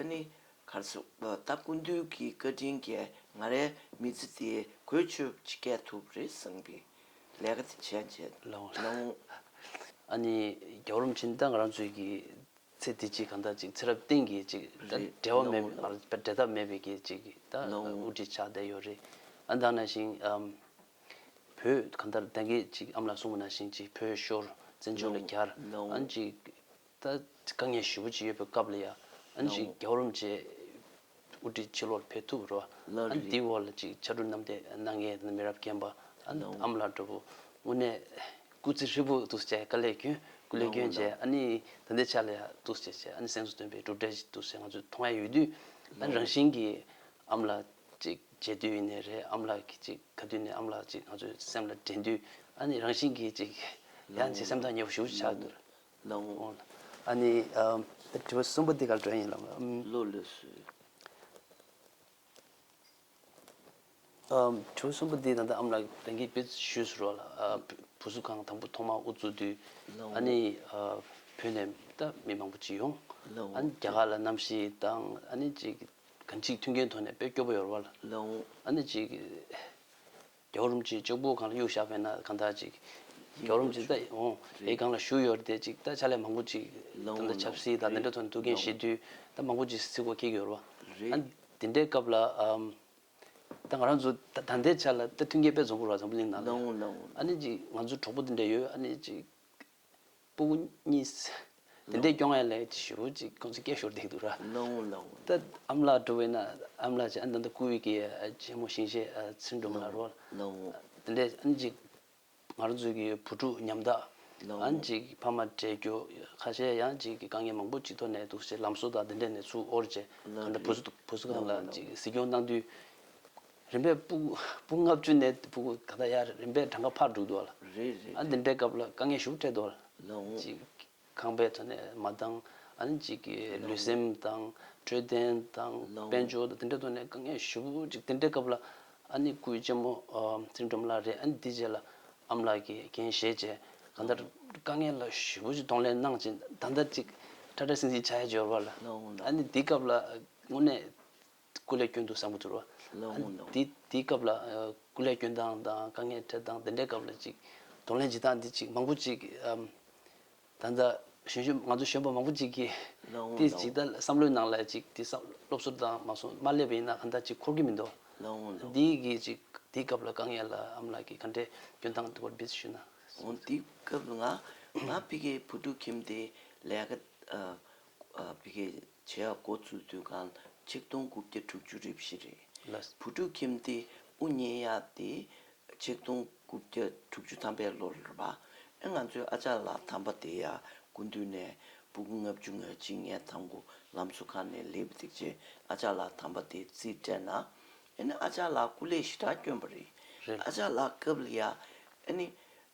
ཨ་ནི། གར་སོ་ལྟ་ཀུན་འདུལ་གྱི་བཀའ་དྲིན་རྒྱ་ང་རའི་མི་ཚེ་འདི་གོས་ཆོད་བསྐྱལ་ཐུབ་རེ་བསམ་གི་ལས་ཀ་དེ་བྱས་བྱས་ལོང། ཨ་ནི། རྒྱ་རོམ་ཕྱིན་ད་ང་རང་ཚོའི་གི་ཚེ་འདི་ཅིག་གང་ད་ཅིག་ཚེ་རབས་སྟེང་གི་ཅིག་ད་འབྲལ་བ་མེད་པའི་འབྲལ་ཐབས་མེད་པའི་གི་ཅིག་ད་དབུ་འཁྲིད་ཆགས་བསྡད་ཡོད་རེད་ཨ་ད་ན་ཞིང་བོད་གང་ད་ད་གི་ཅིག་ཨམ་ལ་སྲུང་བ་ན་ཞིང་ཅིག་བོད་ཤོར་བཙན་བྱོལ་ལ་གྱར་ཨ་ཅིག་ད་དཀའ་ངལ་ཞི་བོ་ཅིག་ཡོད་པའི་སྐབས་ལ་ཡང་ཨ་ནི་ཅིག་རྒྱ་བོར་རུམ་བཅས་དབུ་ཁྲིད་ཕྱི་ལོག་ཕེབས་ཐུབ་རོ། ཨ་ནི་དེའི་འོག་ལ་ཅིག་ཕྱར་གྲུ་གནམ་བསྟན་གནང་མཁན་ནི་མི་རབས་རྒན་པ་ཨ་ནི་ཨ་མ་ལགས་འདྲ་བོ་དངོས་གནས་སྐུ་ཚེ་ཧྲིལ་པོ་ཐུགས་སུ་བཅད་དཀའ་ལས་སྐྱོན་སྐུ་ལས་སྐྱོན་བཅས་ཨ་ནི་ད་ལྟའི་ཆ་ལ་ཡང་ཐུགས་སུ་བཅད་བྱས་ཨ་ནི་སེམས་སུ་སྟོན་པའི་གྲུབ་འབྲས་ཞིག་ཐུགས་སུ་བཅད་ང་ཚོས་མཐོང་ཡ་ཡོད་དུས་ཨ་ནི་རང་བཞིན་གྱིས་ཨ་མ་ལགས་ཅིག་མཇལ་དུས་ཡིན་ནའི་རེད་ཨ་མ་ལགས་ཀྱིས་ཅིག་ག་དུས་ནས་ཨ་མ་ལགས་ཅིག་ང་ཚོའི་སེམས་ལ་དྲན་དུས་ཨ་ནི་རང་བཞིན་གྱིས་ཅིག་ཡང་ཅིག་སེམས་ཐག་ཉེ་བོ་ཞི་བོ་ཆགས་འདུག། ལོང། ཨ་ནི། དྲི་བ་གསུམ་པོ་འདི་གར་སྒྲོན་ཡིན་ལོང། བློ་ལུས་སུ། དྲི་བ་གསུམ་པོ་འདི་ད་ལྟ་ཨམ་ལགས་བདེན་གི་བེད་ཞུས་སུ་རོགས་ལ། བུ་གཟུགས་ཁང་དང་པོ་ཐོག་མ་དབུ་བཙུགས་དུས། ལོང། ཨ་ནི། བོད་ནས་ད་མི་མང་པོ་བྱིས་ཡོང། ལོང། ཨ་ནི་རྒྱ་གར་ལ་གནམ་གཤིས་དང་ཨ་ནི་ཅིག། གང་ཅིག་མཐུན་རྐྱེན་ཐོག་ནས་བེད་སྐྱོ་པོ་ཡོར་བ་ལ། ལོང། ཨ་ནི་ཅིག། རྒྱལ་བ་རིན་པོ་ཆེའི་ཅོག་པུ་གང་ལ་གཡུག་བཞག་པས་ན་གང་དག་ཅིག། རྒྱལ་བ་རིན་པོ་ཆེ་ད་ཨོ་ཡེ་གང་ལ་ཞུ་ཡོད་རེད་དེ་ཅིག་ད་ཕྱག་ལས་མང་པོ་ཅིག་ད་ལྟ་ཆབ་སྲིད་དང་དེ་འདྲ་ཐོག་ནས་ཐུགས་འགན་བཞེས་དུས་ད་མང་པོ་ཅིག་སྲིད་སྐོར་ཁེགས་ཡོད་རེད་བ། དེ་འདྲའི་སྐབས་ལ་ད་ང་རང་ཚོ་ད་ད་ལྟའི་ཆ་ལ་ད་མཐུན་རྒྱལ་དཔལ་རྫོང་པོ་ར་ཚང་པོ་གླིང་ནང་ལ་ཡོད། ཨ་ནི་ཅིག་ང་ཚོ་གྲོགས་པོ་དེ་འདྲ་ཡོད་ཨ་ནི་ཅིག། པུ་གཉིས། དེ་འདྲའི་སྐྱོ་ངལ་ལས་ཅི་ཞུ་ཅིག་ཁོང་ཚོས་སྐད་ཤོར་བསྡད་འདུག་ར། ད་ཨ་མ་ལགས་འགྲོ་བས་ན་ཨ་མ་ལགས་ཀྱིས་ཨ་འདམ་དུ་བསྐུར་བས་ཀྱི་རྒྱལ་མོ་ཞིང་ཞེས་ཚུར་འགྲོ་མ་ལ་རོལ། དེ་འདྲས་ཨ་ནི་ཅིག་ང་རང་ཚོའི་ཀྱི་བུ་ཕྲུག་ཉམ་ཐག་ཨ་ནི་ཅིག་ཕ་མ་བྲལ་རྒྱུ་ཁ་ཤས་ཡང་ཅིག་དཀའ་ངལ་མང་པོ་ཅིག་ཐོག་ནས་འདུག་ཅེས་ལམ་སྲོལ་དང་དེ་འདྲས་ནས་ཚུར་དབོར་རྗེས་གང་འདྲ་བུ་གསུམ་ལ་ཅིག་གཟིགས་སྐྱོང་གནང་དུས། རིམ་པས་སྤུ་སྤུ་ལྔ་བཅུ་ནས་སྤུ་གུ་ད་ལྟ་ཡ་རིམ་པས་གྲངས་ཀ་ཕར་དྲུག་འདུག་ལ། རེད་རེད་རེད། འདི་འདྲའི་སྐབས་ལ་དཀའ་ངལ་ཞུགས་འཕྲད་འདུག་ལ། གཅིག་ཁང་པའི་ཐོག་ནས་མ་འདང། གཅིག་ལུས་སེམས་དང་འཕྲོད་བསྟེན་དང་དཔལ་འབྱོར་དང་འདི་འདྲའི་ཐོག་ནས་དཀའ་ངལ་ཞུགས་གཅིག་དེ་འདྲའི་སྐབས་ལ། སྐུའི་གཅེན་མོ་སེང་སྒྲོམ་ལགས་རེད་འདི་རྗེས་ལ་ཨམ་ལགས་ཀྱིས་རྒན་གཞས་བཅས་གང་ལྟར་དཀའ་ངལ་ལ་ཞུགས་གཅིག་གདོང་ལེན་གནང་གཅིག་ད་ལྟ་གཅིག་ཁྲ་ཁྲ་སིང་སིང་བྱ་ཡ་འབྱོར་བ་ལ། འདི་སྐབས་ལ་དངོས་གནས། སྐུ་ལས་སྐྱོན་འདུག་བསམ་གྱི་འདུག་དེའི་སྐབས་ལ་སྐུ་ལས་སྐྱོན་སྟངས་དང་དཀའ་ངལ་འཕྲད་སྟངས་དེ་འདྲའི་སྐབས་ལ་ཅིག་གདོང་ལེན་བྱེད་སྟངས་འདི་ཅིག་མང་པོ་ཅིག་ད་ལྟ་གཞོན་ཤོས་ང་ཚོ་གཞོན་པ་མང་པོ་ཅིག་གིས་དེ་ཇི་ལྟར་བསམ་བློའི་ནང་ལ་ཅིག་དེ་སློབ་གསོ་དང་མ་སོང་མ་སླེབས་པ་ཡིན་ན་ག་འདྲ་ཅིག་འཁོར་གྱི་མི་འདུག་འདི་གི་ཅིག་དེའི་སྐབས་ལ་དཀའ་ངལ་ལ་ཨ་མ་ལགས་ཀྱིས་ག་འདྲའི་སྐྱོན་སྟངས་དེ་སྐོར་འབྲེལ་ཞུས་ན། དེའི་སྐབས་ལ་ང་ང་ཕི་གེ་བུ་ཕྲུག་ཁྱིམ་དེ་ལས་ཀ་ཕི་གེ། བྱེད་ཡག་འགོ་ཚུགས་དུས་སྒང་ཆིག་སྟོང་དགུ་བརྒྱ་དྲུག་ཅུ་རེ་བཞི་རེད། བུ་ཕྲུག་ཁྱིམ་སྡེ་དབུ་བརྙེས་ཡག་དེ་ཆིག་སྟོང་དགུ་བརྒྱ་དྲུག་ཅུ་ཐམ་པའི་ལོར་རེད། ཨེ་ང་ཚོའི་ཨ་ཅག་ལགས་དམ་པ་དེ་ཡ་དགུ་འདུས་ནས་སྦུག་ལྔ་བཅུ་ང་གཅིག་ངའི་དང་པོ་ལམ་སུ་ཁ་ནས་ལེའུ་བཏེག་རྗེས་ཨ་ཅག་ལགས་དམ་པ་དེ་རྩིས་སྤྲད་ན་ཨེ་ནི་ཨ་ཅག་ལགས་སྐུ་ལས་ཞི་དྲག་བསྐྱོན་པ་རེད། ཨ་ཅག་ལགས་སྐབས་ལ་ཡ་ཨེ་ནི།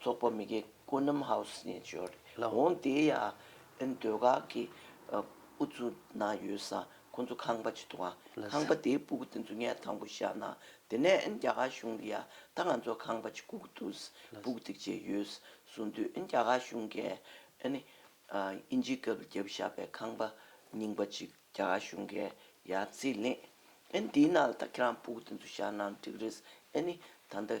ཚོགས་པ་མི་སྒེར་ཀོ་ནམ་ཧའོ་སི་ནེ་ཇོར་ལ་འོངས་ཏེ་ཡ་ཨན་སྡོད་ཁང་གི་དབུ་གཙུག་ན་ཡོད་ས་ཁོ་ཚོ་ཁང་པ་ཇི་ཐུང་བ་ཁང་པ་དེའི་སྤུ་གུ་དེ་ཚོ་ངས་དང་པོ་བཞག་ན་དེ་ནས་ཨན་རྒྱ་གར་གཞུང་གི་ཡ་ད་ང་ཚོ་ཁང་པ་ཇི་ཁུག་འདུག་སྤུ་གུ་དེ་ཇེ་ཡོད་སུ་འདུག་ཨན་རྒྱ་གར་གཞུང་གིས་ཨན་དབྱིན་ཇིའི་སྐབས་རྒྱབ་བཞག་པའི་ཁང་པ་རྙིང་པ་ཅིག་རྒྱ་གར་གཞུང་གིས་ཡ་རྩིས་ལེན་ཨན་དེའི་ནང་ལ་ད་ཁྱེད་རང་སྤུ་གུ་དེ་ཚོ་བཞག་ན་འགྲིག་རེད་ཨན་ད་ལྟ།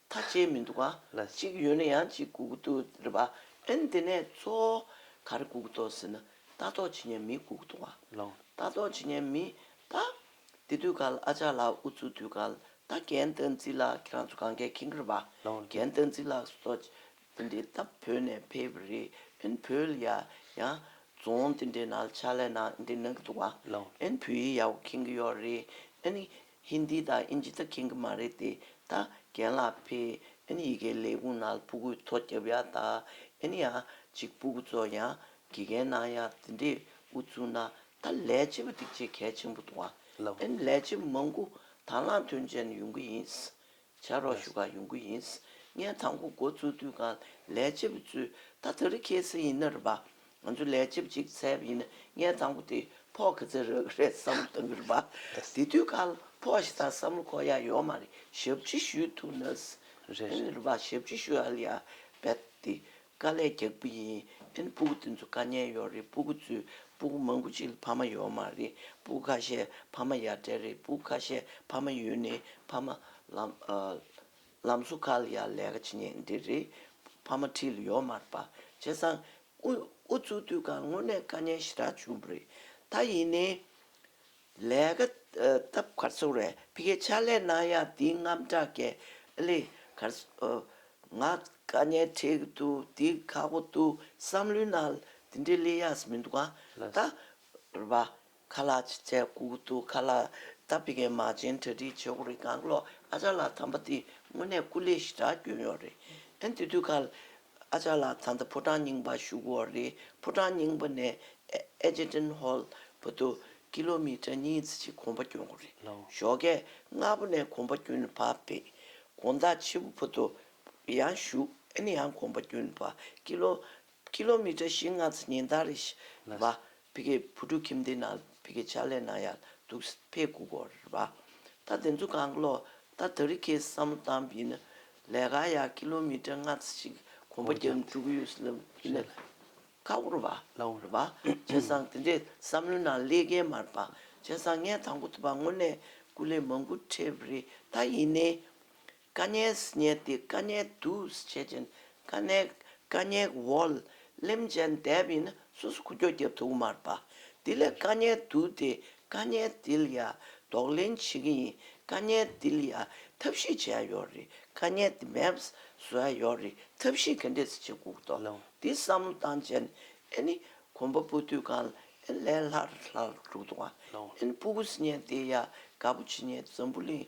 ད་བྱས་མི་འདུག་ག་ལ་གཅིག་ཡོད་ན་ཡང་གཅིག་སྒུག་འདུག་རེད་པ་ཨེ་འདི་ནས་ཚོ་ག་རེ་སྒུག་འདུག་ཟེར་ན་ལྟ་རྟོག་བྱེད་མཁན་མི་སྒུག་འདུག་ག་ལ་ལྟ་རྟོག་བྱེད་མཁན་མི་ད་འདི་དུས་གལ་ཨ་ཅག་ལགས་འུ་ཚོ་དུས་གལ་ད་རྒན་བསྟན་འཛིན་ལགས་ཁྱེད་རང་ཚོ་གང་གལ་ཁེངས་རེད་པ་རྒན་བསྟན་འཛིན་ལགས་སོ་ད་འདི་ད་བོད་ནས་ཕེབས་པ་རེད་ཨེ་བོད་ལ་ཡ་ཡང་རྫོང་འདི་འདྲའི་ནང་ཕྱག་ལས་གནང་འདི་གནང་གི་འདུག་ག་ཨེ་བོད་ཡིག་ཡག་པོ་ཁེངས་གི་ཡོད་རེད་ཨེ་ཧིན་དི་དང་ཨིན་ཇི་ད་མཁྱེན་གི་མ་རེད་དེ་ད་རྒན་ལགས་ཕེ་ཨིན་ཡི་གེ་ལས་ཁུང་ནང་ལ་ཕུ་གུ་ཐོ་རྒྱབ་ཡག་ད་ཨིན་ཡ་གཅིག་ཕུ་གུ་ཚོ་ཡང་དགེ་རྒན་གནང་ཡག་དེ་འདྲས་འུ་ཚུགས་ན་ད་ལས་བྱེད་པ་སྒྲིག་བྱེད་གལ་ཆེན་པོ་འདུག་ཨ་ཨིན་ལས་བྱེད་པ་མང་པོ་དང་ལང་དོན་ཅན་ཡོང་གི་ཡིན་བྱ་རོག་བཞུགས་ཁག་ཡོང་གི་ཡིན། ངས་དང་པོ་འགོ་བཙུགས་དུས་ང་ལས་བྱེད་པའི་ཚུལ་ད་ད་རེ་ཁྱེར་ས་ཡིན་ན་རེ་བ། ང་ཚོ་ལས་བྱེད་པ་གཅིག་བཙལ་བ་ཡིན་ན་ངས་དང་པོ་དེ་ཕོག་གི་ཚེ་རག་གི་རེད་བསམ་བློ་བཏང་གི་རེ་བ། དེ་དུས་ཁ་ཕོག་ཞེ་སྡང་བསམ་བློ་ཁོག་ཡག་ཡོད་མ་རེད་ཞབས་ཕྱི་ཞུས་ཐུབ་ན། རེད་རེད། རེ་བ་ཞབས་ཕྱི་ཞུས་ཨ་ལི་ཡ་བེད་དེ་དཀའ་ལས་རྒྱག་པོ་ཡིན་དེ་ནི་སྤུ་གུ་དེ་ཚོ་དཀའ་ཉན་ཡོད་རེད་སྤུ་གུ་ཚོས་སྤུ་གུ་མང་པོ་ཅིག་ལ་ཕ་མ་ཡོད་མ་རེད་སྤུ་གུ་ཁ་ཤས་ཕ་མ་ཡར་བྲལ་རེད་སྤུ་གུ་ཁ་ཤས་ཕ་མ་ཡོད་ནི་ཕ་མ། ལམ་སོ་ཁ་ལ་ཡར་ལས་ཀ་བྱེད་ཉན་འདི་རེད་ཕ་མ་ཁྲི་ལ་ཡོད་མ་རེད་པ་བྱས་ཙང། ཨུ་ཚུགས་དུས་གང་སྔོན་ནས་དཀའ་ཉན་ཞེ་དྲག་བྱུང་པོ་རེད་ད་ཡིན་ནི། ལས་ཀ་སྟབས་གར་སོང་བས་ཕི་ཁའི་ཕྱག་ལས་གནང་ཡ་འདི་རྔམ་དྲག་གས་ཨ་ལེ། གར་སོང། ང་དཀའ་ཉེན་འཕྲད་ཀྱི་འདུག་འདི་ཁག་པོ་འདུག་བསམ་བློའི་ནང་འདི་འདྲའི་ལས་ཡགས་མི་འདུག་ག་ད། རེད་པ། ཁ་ལག་ཅིག་བཙལ་སྒུག་གི་འདུག་ཁ་ལག་ད་ཕི་ཁའི་མ་བྱན་གྲ་སྒྲིག་བྱེད་དགོས་རེད་གངས་ལོག་ཨ་ཅག་ལགས་དམ་པ་འདི་དངོས་གནས་སྐུ་ལས་ཞི་དྲག་སྐྱོན་ཡོད་རེད་ཨེ་འདི་དུས་ཁ་ཨ་ཅག་ལགས་ད་ལྟ་ཕོ་བྲང་རྙིང་པར་བཞུགས་འོག་རེད་ཕོ་བྲང་རྙིང་པ་ནས་ཨེ་ཇེ་ཏིན་ཧོལ་བོ་དུ་ཀི་ལོ་མི་ཀྲ་གཉིས་ཙི་ཅིག་གོམ་པ་བསྐྱོན་འགོ་རེད་ཞོགས་ཀས་སྔ་པོ་ནས་གོམ་པ་བསྐྱོན་བ་བེད་དགོངས་དག་ཆེ་བོ་བོ་དུ་ཡང་བཞུགས་ཨེ་ནི་ཡང་གོམ་པ་བསྐྱོན་བ་ཀི་ལོ་མི་ཀྲ་བཞི་ལྔ་ཙི་ཉིན་ལྟར་རེད་བ་ཕི་གེ་བུ་ཕྲུག་ཁྱིམ་སྡེ་ན་ཕི་གེ་ཕྱག་ལས་ན་ཡག་འདུག་ཕེ་གུ་གོ་རེད་པ་ད་དེ་ཚོ་གང་ལོ་ད་ད་རི་ཁའི་བསམ་བློ་བཏང་ཕི་ན་ལས་ཀ་ཡག་ཀི་ལོ་མི་ཏྲ་ལྔ་ཚ་ཞིག་གོམ་པ་རྒྱབ་ནས་འགྲུག་གི་ཡོད་ལབ་ཕི་ན་ཁ་བོ་རུ་བ་ལ་བོ་རུ་བ་བྱས་ཙང་དེ་འདྲའི་བསམ་བློའི་ནང་ཀླད་རྒན་མ་རུ་བ་བྱས་ཙང་ངས་དང་པོ་དུ་བ་དངོས་གནས་སྐུ་ལས་མང་པོ་ཁྲེལ་བ་རེད་ད་ཡིན་ནའི། ཀ་ནས་བསྙད་དེ་ཀ་ནས་བསྡུས་བྱེད་ཅིང་ཀ་ནས་ཀ་ནས་བོལ། ལེམ་ཅན་འདེབས་ཡིན་ན་སོ་སོ་ཁུ་ཁྱོ་གྱ་དུག་མར་པ། དེ་ལས་ཀ་ནས་བསྡུས་ཏེ་ཀ་ནས་དིལ་ཡ་ལྡོག་ལེན་བྱེད་ཀྱི་ཡིན་ཀ་ནས་དིལ་ཡ་ཐབས་ཤེས་བྱས་ཡོ་རི་ཀ་ནས་དིལ་མེབས་བཟོས་ཡོ་རི་ཐབས་ཤེས་གན་འདེད་བྱེད་ཀུག་ཏོ་དིལ་བསམ་བློ་བཏང་ཅན་ཨེ་ནི་གོམ་པ་སྤུ་དུད་གང་ཨེ་ལས་ལྷར་ལྷར་དྲུག་ཏུ་བ་ཨེ་ནི་སྤུ་གུ་བསྙད་དེ་ཡ་ག་པོ་ཆེ་ཉེ་འཛམ་བུ་གླིང་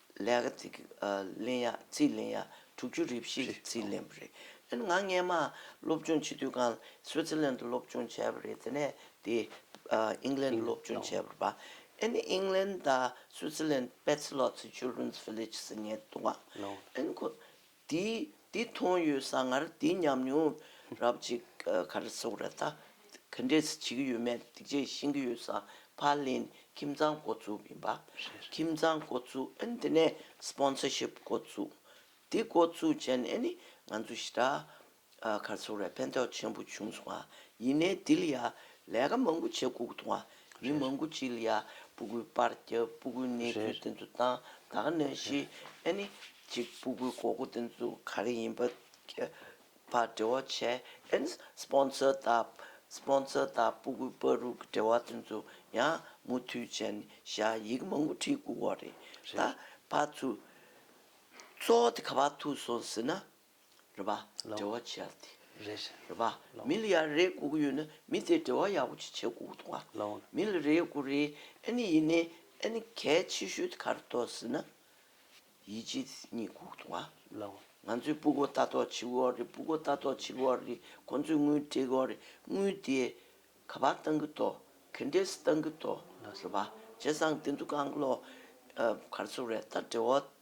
ལེགས་ཚིག་ལན་ཡག་ཚིག་ལན་ཡག་དྲུག་ཅུ་རེ་བཞི་གི་ཚིག་ལན་པོ་རེད། དེ་ནི་ང་རྔན་མ་སློབ་སྦྱོང་བྱེད་དུས་གང་སུའི་ཙི་ལན་དུ་སློབ་སྦྱོང་བྱས་པ་རེད་དེ་ནས་དེ་ཨིང་ལན་དུ་སློབ་སྦྱོང་བྱས་པར་པ་ཨེ་ནི་ཨིང་ལན་དང་སུའི་ཙི་ལན་པེ་ཚི་ལོ་ཚི་ཅུལ་རུན་ཚི་བྷི་ལེ་ཇི་སི་ངའི་ཏུང་ཨ་ཨེ་ནི་ཁོ། འདི་འདི་མཐོང་ཡོད་ས་ངར་འདི་ཉམས་མྱོང་རབ་ཅིག་ག་རེ་སོགས་རེད་ད་ག་འདྲས་བྱེད་ཀྱི་ཡོད་མེད་སྡིག་ཆས་ཤེས་ཀྱི་ཡོད་ས་ཕ་ལེན་ཁྱིམ་ཚང་འགོ་བཙུགས་ཡིན་པ་ཁྱིམ་ཚང་འགོ་བཙུགས་ཨན་དེ་ནས་སྤོན་སོར་ཤིབ་འགོ་བཙུགས་འདི་འགོ་བཙུགས་བྱས་ནས་ནི་ང་ཚོ་ཞི་དྲག་མཁར་ཚོར་བའི་ཕན་ཐོགས་ཆེན་པོ་བྱུང་སོང་བ་ཡིན། གནས་འདི་ལ་ཡང་ལས་ཀ་མང་པོ་བྱེད་ལྐུགས་འདུག་བ། མི་མང་པོ་ཅིག་ལ་ཡང་སྤུ་གུའི་སྤར་རྒྱབ་སྤུ་གུའི་གནས་ཚུལ་དེ་ཚོ་དང་དག་གནས་ཤིག་ཨེ་ནི། གཅིག་སྤུ་གུའི་གོ་སྐུ་དེ་ཚོ་ག་རེ་ཡིན་པ་འབྲེལ་བ་བྱས་ཨེ་ནི། Sponsor དང Sponsor དང་སྤུ་གུའི་སྤར་རུ་གི་འབྲེལ་བ་དེ་ཚོ་ཡང་མུ་མཐུད་བྱས་ནས་བཞག་ཡིག་མང་པོ་བྲིས་ལྐུགས་བ་རེད། ད་བར་ཚུར། ཚོགས་དེ་ག་བར་ཐུག་སོང་ཟེར་ན། རེད་པ། འབྲེལ་བ་ཆེ་ཡག་དེ། རེད་པ། མི་ལ་ཡག་རེད་གོ་གི་ཡོད་ན་མི་དེ་འབྲེལ་བ་ཡག་པོ་ཆེ་ཆེ་གོ་གི་འདུག་ག། མི་ལ་རེད་གོ་རེད་ཨེ་ནི་ཡིན་ནའི་ཨེ་ནི་གལ་ཆེ་ཤོས་དེ་ག་རེ་གཏོགས་ཟེར་ན། ཡིད་ཆེས་དེ་གཉིས་གོ་གི་འདུག་ག། ང་ཚོའི་སྤུ་གོ་ལྟ་རྟོག་བྱེད་གི་འོག་རེད་སྤུ་གོ་ལྟ་རྟོག་བྱེད་གི་འོག་རེད་ཁོང་ཚོའི་དངུལ་སྤྲད་གི་འོག་རེད་དངུལ་དེ། ག་པར་བཏང་གི་འདུག་གན་རྒྱའི་སུ་བཏང་གི་འདུག་རེད་པ། བྱས་ཙང་དེ་འདུག་ག་ཨང་གློག། གར་སོ་རེད་ད་འབྲེལ་བ།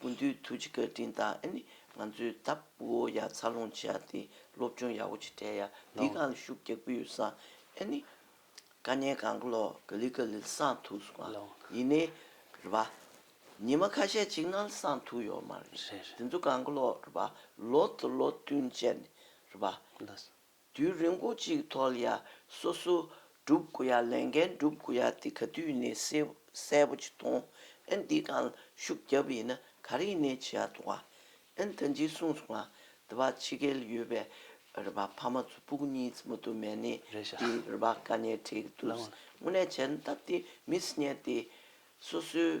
ཀུན་འདུས་ཐུགས་རྗེ་བཀའ་དྲིན་དང་ནི་ང་ཚོའི་ལྟ་བུའོ་ཡ་འཚར་ལོངས་བྱས་ཏེ་སློབ་སྦྱོང་ཡག་པོ་བྱེད་འབྲས་ཡ་འདི་གང་ལ་ཤུགས་རྒྱག་པོ་ཡོད་སང་ཨེ་ནི། དཀའ་ཉན་གང་གི་ལོ་ག་ལི་ག་ལི་སང་ཐུགས་སོང་ཨ་ཡིན་ནི། རེད་པ། ཉི་མ་ཁ་ཤས་ཅིག་ནང་ལ་སང་ཐུགས་ཡོད་མ་རེད་དེ་ཚོ་གང་གི་ལོ་རེད་པ་ལོ་དང་ལོ་བསྟུན་བྱས་ནི་རེད་པ། དུས་རིང་པོ་གཅིག་ཐོག་ལ་སོ་སོ་སྒྲུབ་དགོས་ཡ་ལས་འགན་སྒྲུབ་དགོས་ཡ་དེ་ག་དུས་ནས་གསལ་པོ་ཅིག་མཐོང་ཨེ་འདི་གང་ཤུགས་རྒྱབ་ཡིན་ན་ག་རེ་ནས་བྱེད་ཡ་ཐུག་ཨ་ཨེ་ད་འཇིག་གསུངས་སོང་ང་འདི་བ་ཕྱི་རྒྱལ་ཡོད་པའི་རེ་བ་ཕ་མ་ཚོ་པུག་གཉིས་ཙམ་དུ་མེད་ནས་དེ་རེ་བ་ག་ནས་བྲིས་ཀྱི་འདུག་དངོས་གནས་བྱས་ན་སྟབས་བདེ་མི་སྲིད་ཉན་ཏེ་སོ་སོའི་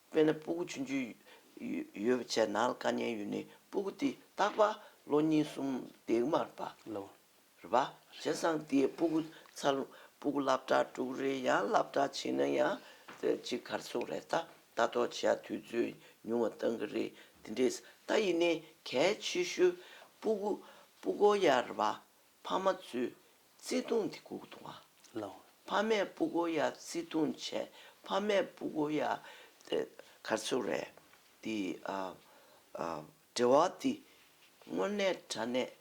དཔེར་ན་སྤུ་གུ་ཆུན་ཆུན་ཡོད་པ་བྱས་ནལ་དཀར་མཉན་ཡོད་ནི་སྤུ་གུ་འདི་རྟག་པ་ལོ་གཉིས་གསུམ་འདེགས་མར་པ། རེད་པ། བྱས་སང་དེས་སྤུ་གུ་ཚ་ལུང་སྤུ་གུ་བླབ་གྲྭ་དཀྲུག་རེད་ཡང་བླབ་གྲྭ་བྱེད་ན་ཡང་ཅིག་གར་ཚུགས་རེད་ད་ལྟ་ཐོག་བྱས་དུས་ཚོད་ཉུང་བ་བཏང་གི་རེད་དེ་འདྲས་ད་ཡིན་ནའི་གལ་ཆེ་ཤོས་སྤུ་གུ་སྤུ་གོ་ཡ་རེད་པ་ཕ་མ་ཚོས་བརྩེ་དུང་དེ་གུག་ཏུ་བསླང། ཕ་མས་སྤུ་གོ་ཡ་བརྩེ་དུང་བྱས། ཕ་མས་སྤུ་གོ་ཡ། གར་ཚུར་རས་འདི། འབྲེལ་བ་འདི། དངོས་གནས་དྲ་གནས་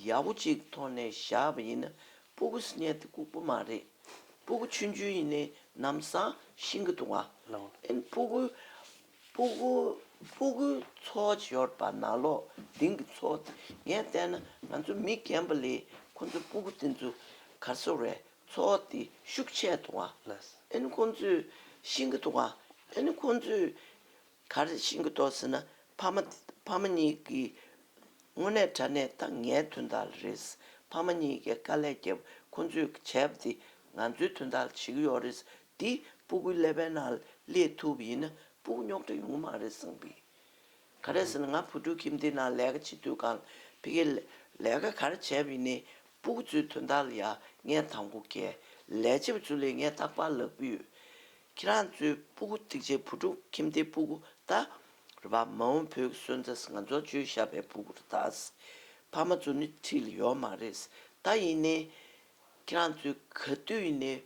ཡག་པོ་གཅིག་ཐོག་ནས་བཞག་པ་ཡིན་ན་སྤུ་གོ་སྙད་དེ་གུག་པོ་མ་རེད། སྤུ་གོ་ཆུན་ཆུན་ཡིན་ནའི་ནམ་སང་ཤིང་གི་ཏུང་བ། ཨེན་སྤུ་གོ། སྤུ་གུ་སྤུ་གུའི་ཚོགས་ཤོར་པ་ན་ལོ་ལྡིང་གི་ཚོགས་ངས་བལྟས་ན་ང་ཚོ་མི་རྒན་པ་ལས་ཁོ་ཚོའི་སྤུ་གུ་དེ་ཚོ་གར་ཤོར་བས་ཚོགས་དེ་ཤུགས་ཆད་འདུག་ཨ་ནི་ཁོ་ཚོས་ཤིང་གི་འདུག་ཨ་ནི་ཁོ་ཚོས་གར་ཤིང་གི་འདུག་ཟེར་ན་ཕ་མ་ཕ་མ་གཉིས་ཀྱིས་དངོས་གནས་དྲ་གནས་ད་ངའི་དོན་དག་རེད་ཕ་མ་གཉིས་ཀས་དཀའ་ལས་བརྒྱབ་ཁོ་ཚོས་བྱས་པ་དེ་ང་ཚོའི་དོན་དག་བྱེད་ཀྱི་ཡོད་རེད་འདི་སྤུ་གུའི་ཀླད་པའི་ནང་ལས་ཐུབ་ཡིན་ན་སྤུ་གུ་རྙོག་དྲ་ཡོང་གི་མ་རེད་གསུངས་པས། ག་རེད་ཟེར་ན་ང་བུ་ཕྲུག་ཁྱིམ་སྡེའི་ནང་ལས་ཀ་བྱེད་དུས་གང་ཕི་ཁའི་ལས་ཀ་ག་རེ་བྱས་པ་ཡིན་ནའི་སྤུ་གུ་ཚོའི་དོན་དག་ལ་ཡ་ངའི་དང་པོ་ཁའི་ལས་བྱེད་པ་ཚོ་ལས་ངའི་རྟག་པར་ལབ་གི་ཡོད། ཁྱེད་རང་ཚོའི་སྤུ་གུ་སྟེགས་བྱའི་བུ་ཕྲུག་ཁྱིམ་སྡེའི་སྤུ་གུ་ད་རེད་བ་མ་འོངས་བོད་ཀྱི་སོན་རྩ་ང་ཚོ་བཅོལ་ཞབས་པའི་སྤུ་གུ་རེད་ད། ཕ་མ་ཚོ་ནི་ཁྲིད་ལ་ཡོད་མ་རེད་ད་ཡིན་ནའི་ཁྱེད་རང་ཚོས་ག་དུས་ནས་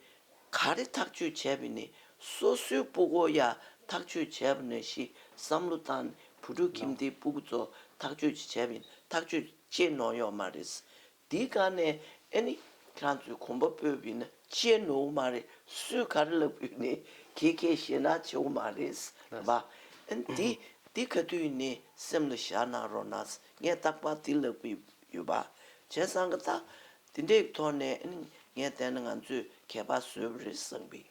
ག་རེ་ཐག་གཅོད་བྱས་པས་ནས་སོ་སོའི་སྤུ་གོ་ཡ་ཐག་གཅོད་བྱས་པ་ནས་ཤི་བསམ་བློ་བཏང་ནས་བུ་ཕྲུག་ཁྱིམ་སྡེའི་སྤུ་གོ་ཚོ་ཐག་གཅོད་བྱས་པས་ནས་ཐག་གཅོད་བྱེད་ནོ་ཡོག་མ་རེད། འདི་ག་ནས་ཨེ་ནི་ཁྱེད་རང་ཚོས་གོམ་པ་སྤོས་པས་ནས་བྱེད་ནོ་འོ་མ་རེད་སུས་ག་རེ་ལབ་བས་ནས་གྱེས་གྱེས་ཞེས་ན་བྱེད་འོ་མ་རེད། ལབ་པ་ཨེ་འདི་འདི་ག་དུས་ནས་སེམས་ལ་བཞག་གནང་རོགས་གནང་ངས་རྟག་པར་འདི་ལབ་གི་ཡོད་པ་བྱས་སང་ག་ད་དེ་འདྲའི་ཐོག་ནས་ངས་བལྟས་ན་ང་ཚོས་མཁས་པ་བཟོས་པ་རེད་བསམ་གི་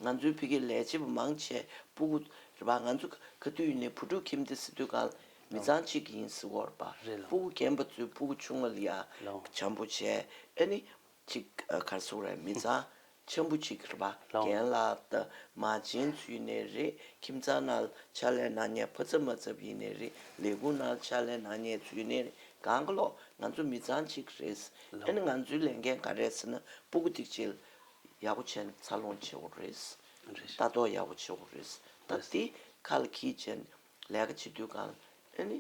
ང་ཚོའི་ཕི་གེ་ལས་བྱེད་པ་མང་ཆེ་སྤུ་གུ་རེད་པ་ང་ཚོ་ག་དུས་ཡིན་ནའི་བུ་ཕྲུག་ཁྱིམ་སྡེ་སི་ཏུ་གང་མི་ཚང་གཅིག་གི་ཡིན་སི་འོར་པ་སྤུ་གུ་རྒན་པ་ཚོའི་སྤུ་གུ་ཆུང་མ་ལ་ཡ་བྱམས་པོ་བྱས་ཨ་ནི་གཅིག་གར་སོང་རེད་མི་ཚང་ཆེན་པོ་གཅིག་རེད་པ་རྒན་ལགས་ད་མ་བྱིན་ཚུལ་ནས་རེད་ཁྱིམ་ཚང་ནང་ཕྱག་ལས་གནང་ཉན་ཕོ་ཚབ་མ་ཚབ་ཡིན་ནས་རེད་ལས་ཁུངས་ནང་ཕྱག་ལས་གནང་ཉན་ཚུལ་ནས་རེད་གང་གི་ལོག་ང་ཚོ་མི་ཚང་གཅིག་རེད་ཨེ་ན་ང་ཚོའི་ལས་འགན་ག་རེད་ཟེར་ན་སྤུ་གུ་ཐིག་ཆེ་ཡག་པོ་བྱས་ན་འཚར་ལོངས་ཆེ་བོ་རེད་ལྟ་རྟོག་ཡག་པོ་ཆེ་བོ་རེད་ད་དེ་ཁ་ལ་ཁྱི་ཅན་ལས་ཀ་བྱེད་དུས་གང་ཨེ་ནི།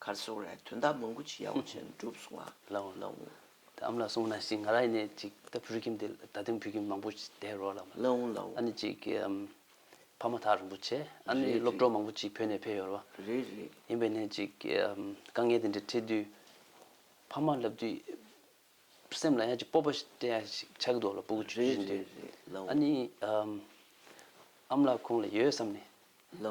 གར་གསུང་རས་དོན་དག་མང་པོ་ཅི་ཡ་བ་ཆེན་བསྒྲུབ་གསུང་བ་ལའོ། དེ་ཨམ་ལ་གསུང་ན་ཅིག་ང་ར་ཡི་ནས་ཅིག་ད་བུར་ཁྱིམ་དེ་ད་དེང་བུ་ཁྱིམ་མང་པོ་དེ་རོ་ལ་མ་ཨ་ནི་ཅིག་ཕ་མ་ཐག་རིན་པོ་ཆེ་ཨ་ནི་སློབ་གྲོགས་མང་པོ་ཅིག་བོད་ནས་ཕེ་ཡོ་ར་བ་ཡིན་པའི་ནས་ཅིག་དཀའ་ངལ་དེ་འདྲ་འཕྲད་དུས་ཕ་མ་ལབ་དུས། སེམས་ལ་ཡང་ཅིག་སྤོབས་པ་ཞིག་བྱ་གི་འདུག་ལ་སྤོ་གི་ཡོད་ཅིག་ཨ་ནི། ཨ་མ་ལགས་ཁོང་ལ་ཡོད་བསམ་ནས་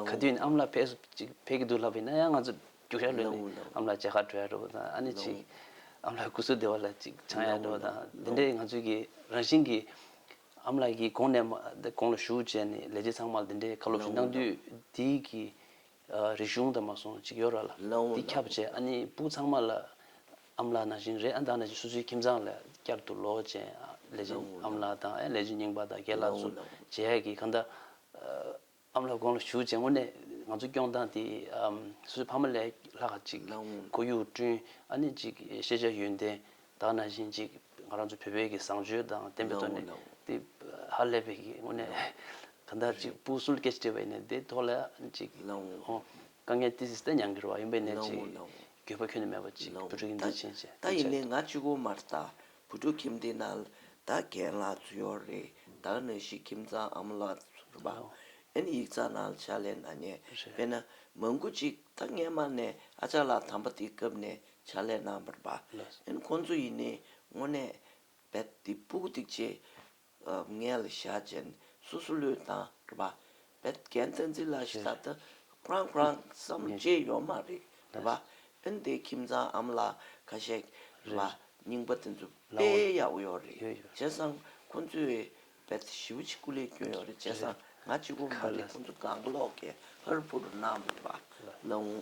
ག་དུས་ནས་ཨ་མ་ལགས་ཕེབས་ཕེབས་ཀྱི་འདུག་ལབ་པས་ན་ཡང་ང་ཚོ་རྒྱུགས་ཤར་ལོན་ནས་ཨ་མ་ལགས་ཅག་ཧ་གྲོ་ཡ་འགྲོ་བ་དང་ཨ་ནི་ཅིག་ཨ་མ་ལགས་སྐུ་གསོལ་བདེ་བ་ལ་ཅིག་འཆང་ཡ་འགྲོ་བ་དང་དེ་འདྲའི་ང་ཚོས་ཀྱི་རང་བཞིན་གྱི་ཨ་མ་ལགས་ཀྱི་གོང་ནས་གོང་ལ་ཞུགས་བྱས་ནས་ལས་བྱེད་ཚང་མ་ལ་དེ་འདྲའི་བཀའ་སློབ་ཞིག་གནང་དུས་འདིའི་གི་རི་གཞུང་དང་མ་སོང་གཅིག་ཡོད་ར་ལ། དེ་ཁྱབ་བྱས་ཨ་ནི་སྤུག་ཚང་མ་ལ། ཨམ་ལག་ན་བཞིན་རེ་ཨ་འདང་ན་བཞིན་སུ་ཚུལ་ཁྱིམ་ཚང་ལ་བསྐྱར་དུ་ལོག་ཅན་ལས་ཅན་ཨམ་ལག་དང་ཨེ་ལས་ཅན་རྙིང་པ་དང་དགེ་ལགས་སུ་བྱས་ཀྱི་གང་ལྟ། ཨམ་ལག་དགོངས་ལ་ཞུགས་བྱས་དངོས་གནས་ང་ཚོ་སྐྱོང་སྟངས་དེ་སུ་ཚུལ་ཕ་མ་ལས་ལྷག་གཅིག་ཁོར་ཡུག་བསྐྲུན་ཨ་ནི་གཅིག་ཤེས་བྱ་ཡོན་ཏན་ད་ན་བཞིན་ཅིག་ང་རང་ཚོ་བོད་པའི་གི་བཟང་སྤྱོད་དང་བསྟན་པའི་དོན་ནི་དེ་ཧ་ལས་པའི་གི་དངོས་གནས་ག་འདྲ་ཅིག་སྤུ་གསུལ་སྐད་ཅིག་བྲིས་པའི་ནི་དེ་ཐོག་ལ་ཅིག་དཀའ་ངལ་ཏི་སི་ཏི་མྱང་གི་རུ་བ་ཡིན་པའི་ནི་ཅིག་འགྱོད་པ་ཁྱོད་ནི་མེད་པ་ཅིག་བུ་ཕྲུག་གི་འདི་བྱིན་ཅིག་དེ་བྱེད་དོ། ང་གཅིག་བུ་མར་ལྟ་བུ་ཕྲུག་ཁྱིམ་འདི་ན་ལ་ད་གན་ལ་ཚུ་ཡོག་རེད་བདག་ནི་ཞིག་ཁྱིམ་ཚང་ཨ་མ་ལ་ཚུ་རུ་བ་ཨན་ཡིག་ཚ་ན་ལ་ཆ་ལེ་ན་ཉེ་བས་ན་མ་མགུ་ཅིག་ད་ངས་མར་ནས་ཨ་ཅག་ལ་དམ་པ་དེ་སྐབས་ནས་བྱ་ལས་རྣམ་པར་སྦ། ཡང་ཁོང་ཚོ་ཡིས་ནི་སྔོན་གནས་པའི་དེ་སྤུ་གུ་ཐིག་ཆེ། མངལ་ལ་ཤ་ཅན་སོ་སོ་ལུས་དང་སྦ། བད་ཀན་ཏི་ཛི་ལ་ཤི་ད་ད་ཀྲང་ཀྲང་བསམ་བརྗེད་ཡོད་མ་རེད་སྦ། ཨིན་དེའི་ཁྱིམ་ཚང་ཨམ་ལ་ཁ་ཤེག་སྦ། རྙིང་པ་དེ་ཚོ་དཔེ་ཡག་ཡོད་རེད་བྱས་སང་ཁོང་ཚོའི་བད་བྱི་བུ་གཅིག་གུ་ལས་སྐྱོན་ཡོད་རེད་བྱས་སང་ང་གཅིག་པོ་མ་རེད་ཁོང་ཚོ་གང་ཀློག་གེ་ཧར་བུ་རུ་སྣང་བ་ལ་འོང།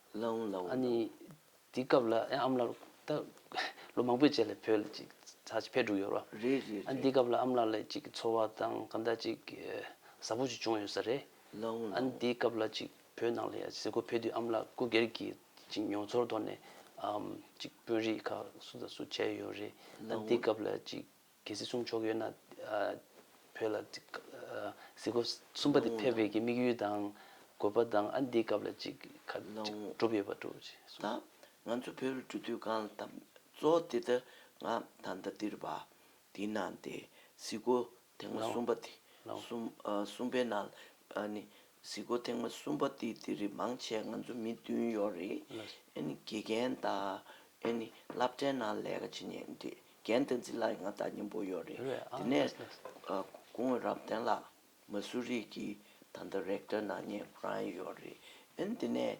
ལོའུ་ལོའུ། ཨ་ནི། དེའི་སྐབས་ལ་ཨེ་ཨམ་ལགས་ད། ལོ་མང་པོའི་རྗེས་ལ་བོད་ལ་ཅིག་ཚ་ཕེབས་འགྲོ་གི་ཡོད་རེད་བ། རེད་རེད་རེད། ཨ་ནི་དེའི་སྐབས་ལ་ཨམ་ལགས་ལ་ཅིག་གི་འཚོ་བ་དང་གང་འདྲ་ཅིག་གཟབ་པོ་ཅིག་བྱུང་ཡོད་ས་རེད། ལོའུ་ལོའུ། ཨ་ནི་དེའི་སྐབས་ལ་ཅིག་བོད་ནང་ལ་ཡ་གཟིགས་སྒོ་ཕེབས་དུས་ཨམ་ལགས་སྐུ་སྒེར་གྱི་ཅིག་མྱོང་ཚོར་ཐོག་ནས། ཨམ། ཅིག་དཔོན་རིགས་ཁག་སུ་དང་སུ་བྱས་ཡོད་རེད། ཨ་ནི་དེའི་སྐབས་ལ་ཅིག་གལ་སྲིད་གསུང་ཆོག་ཡོད་ན། བོད་ལ། གཟིགས་སྐོར་གསུམ་པ་དེ་ཕེབས་རེས་ཀྱི་དམིགས་ཡུལ་དང། དགོས་པ་དང་ཨ་འདིའི་སྐབས་ལ་ཅིག་ག་གྲུབ་ཡོད་པ་དྲུག་ཅིག་གསུངས། ད་ང་ཚོ་བོད་རུ་འགྲོ་དུས་གང་ལ་དམ། གཙོ་བོ་དེ་ལྟར་ང་ད་ལྟ་འདིར་བ། དེའི་ནང་དེ་གཟིགས་སྐོར་དེ་སྔ་གསུངས་པ་དེ། གསུངས་པའི་ནང་ལ་ནི། གཟིགས་སྐོར་ཐེངས་མ་གསུམ་པ་འདི་འདི་རིགས་མང་ཆེ་ང་ཚོ་མི་བདུན་ཡོད་རེད་ཨེ་ནི་དགེ་རྒན་ད་ཨེ་ནི་བླ་བྲེ་ན་ལས་ཀ་བྱེད་ཉེན་དགེ་རྒན་བསྟན་འཛིན་ལ་ཡི་ང་ད་སྙན་པོ་ཡོད་རེད་དེ་ནས་སྐུ་ངོས་རབ་བརྟན་ལགས་མ་སུ་རིག་གི་ད་ད་རེག་ཏོན་ན་ཉན་པོ་རང་ཡོད་རེད་ཨེ་ནི་དེ་ནས་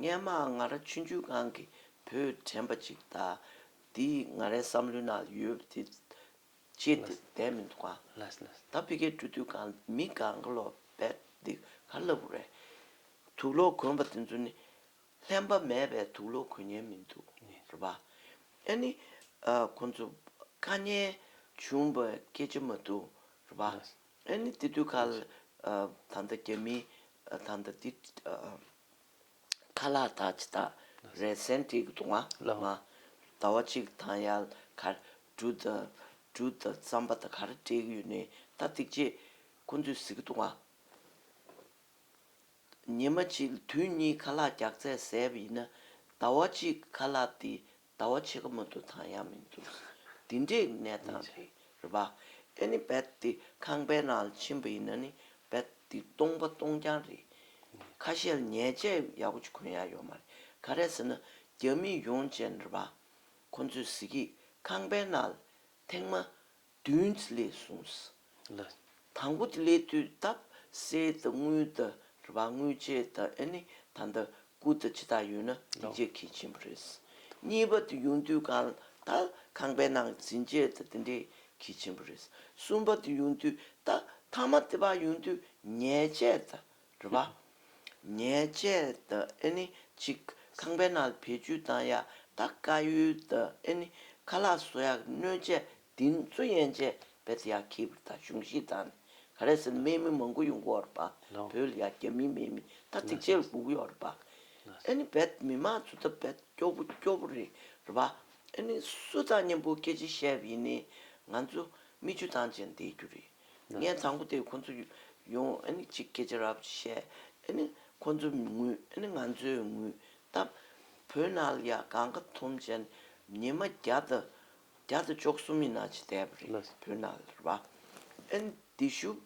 ངའི་མ་ང་ར་ཆུ་འཇུག་ཁང་གི་བུ་དྲན་པ་ཅིག་ད་འདི་ང་རའི་བསམ་བློའི་ནང་ཡོད་དེ་ཅེས་དེ་བསྡད་མི་འདུག་གང་ད་ཕི་གའི་འགྲོ་དུས་གང་མི་གང་ག་ལོ་བས་འདི་ག་ལབ་བོ་རེད། དུག་ལོག་གོན་པ་དེ་ཚོ་ནི་ལྷན་པ་མེད་པའི་དུག་ལོག་གོན་ཉན་མི་འདུག་རེད་པ། ཨ་ནི་ཁོང་ཚོ་དཀའ་ཉན་བྱུང་བའི་སྐད་ཆ་མ་འདུག་རེད་པ། ཨ་ནི་འདི་དུས་ག་ལ་ད་ལྟ་རྒྱ་མི་ད་ལྟ་འདི། ཁ་ལག་དག་ཅི་དག་རལ་གསེང་དྲིལ་གྱི་དུང་བ་ལ། ཟླ་བ་གཅིག་དང་ཡར་གར་འབྲུ་དང་རྩམ་པ་དང་གར་སྤྲེལ་གཡུ་ནི་རྟ་སྟེགས་བཅས་ཀུན་ཚུད་གཟི་ཀྱི་དུང་བ། ཉི་མ་གཅིག་དུས་གཉིས་ཁ་ལག་བརྒྱག་ཚད་ཟད་པ་ཡིན་ན། ཟླ་བ་གཅིག་ཁ་ལག་དེ་ཟླ་བ་ཕྱེད་ཀ་མ་འདུག་དང་ཡང་མི་འདུག་འདི་འདྲའི་གནས་སྟངས་རེད་རེད་པ། ཨེ་ནི་རྦད་དེ་ཁང་པའི་ནང་ལ་ཕྱིན་པ་ཡིན་ན་ནི་རྦད་དེ་སྟོང་པ་སྟོང་རྐྱང་རེད། ཁ་ཤས་ལ་ཉལ་ཆས་ཡག་པོ་ཅིག་གོན་ཡག་ཡོད་མ་རེད་ག་རེ་ཟེར་ན་རྒྱ་མི་ཡོང་བྱས་ནས་རེད་པ། ཁོ་ཚོས་ཟེར་གྱི་ཁང་པའི་ནང་ལ་ཐེངས་མ་བདུན་གྱི་ལས་གསུངས་ལ། དང་པོ་ལས་བཏུས་བཏབ་གསལ་དང་དངུལ་དང་རུ་བ་དངུལ་ཆད་དང་ཨེ་ནི་ད་ལྟ་སྐུ་དང་ཇི་དག་ཡོད་ན་ཡིད་ཆེས་གལ་ཆེན་པོ་རེད། གཉིས་པ་དུ་ཡུངས་བཏུས་གང་དག་ཁང་པའི་ནང་འཛིན་ཆད་དང་དེ་འདྲའི་གལ་ཆེན་པོ་རེད། གསུམ་པ་དུ་ཡུངས་བཏུས་དག་ཐ་མ་དེ་བ་ཡུངས་བཏུས་ཉལ་ཆད་དང། རེད་པ། ཉལ་ཆས་དེ་ཨེ་ནི་གཅིག་ཁང་པའི་ནང་བེད་སྤྱོད་བཏང་ཡག་ད་དཀའ་ཡུལ་དེ་ཨེ་ནི་ཁ་ལག་བཟོ་ཡག་སྣོད་ཆས་འདི་ཚོ་ཡན་ཆད་བེད་ཡག་གི་བུ་ད་གཞུང་ཞིག་དང་ནི་ག་རེ་ཟེར་སྨན་མི་མང་པོ་ཡོང་གི་ཡོད་རེད་པ་བོད་ལ་ཡ་རྒྱ་མི་སྨན་མི་ད་ཐིག་ཆེ་ལ་སྒུག་གི་ཡོད་རེད་པ། ཨེ་ནི་བེད་མི་མང་ཚོ་ད་བེད་སྐྱོ་པོ་སྐྱོ་པོ་རེད་པ། ཨེ་ནི་སུ་དང་མཉམ་པོ་སྐད་ཆ་བཤད་ཡིན་ནི་ང་ཚོ་མིག་ཆུ་དང་བཅས་འདེད་རྒྱུ་རེད། ངས་ཚང་པོ་དེ་ཁོ་ཚོ་ཡོང་གཅིག་སྐད་ཆ་རབ་བཤད། ཁོ་ཚོ་ངུས་ང་ཚོས་ངུས་སྟབས། བོད་ནང་ལ་ཡང་གང་ག་ཐུམ་ཅན་ཉི་མ་བརྒྱ་དང་བཅུ་གསུམ་ཡི་ན་ཆེ་བསྡད་པ་རེད་བོད་ནང་ལ་རེད་བ། དེ་ཤུབ་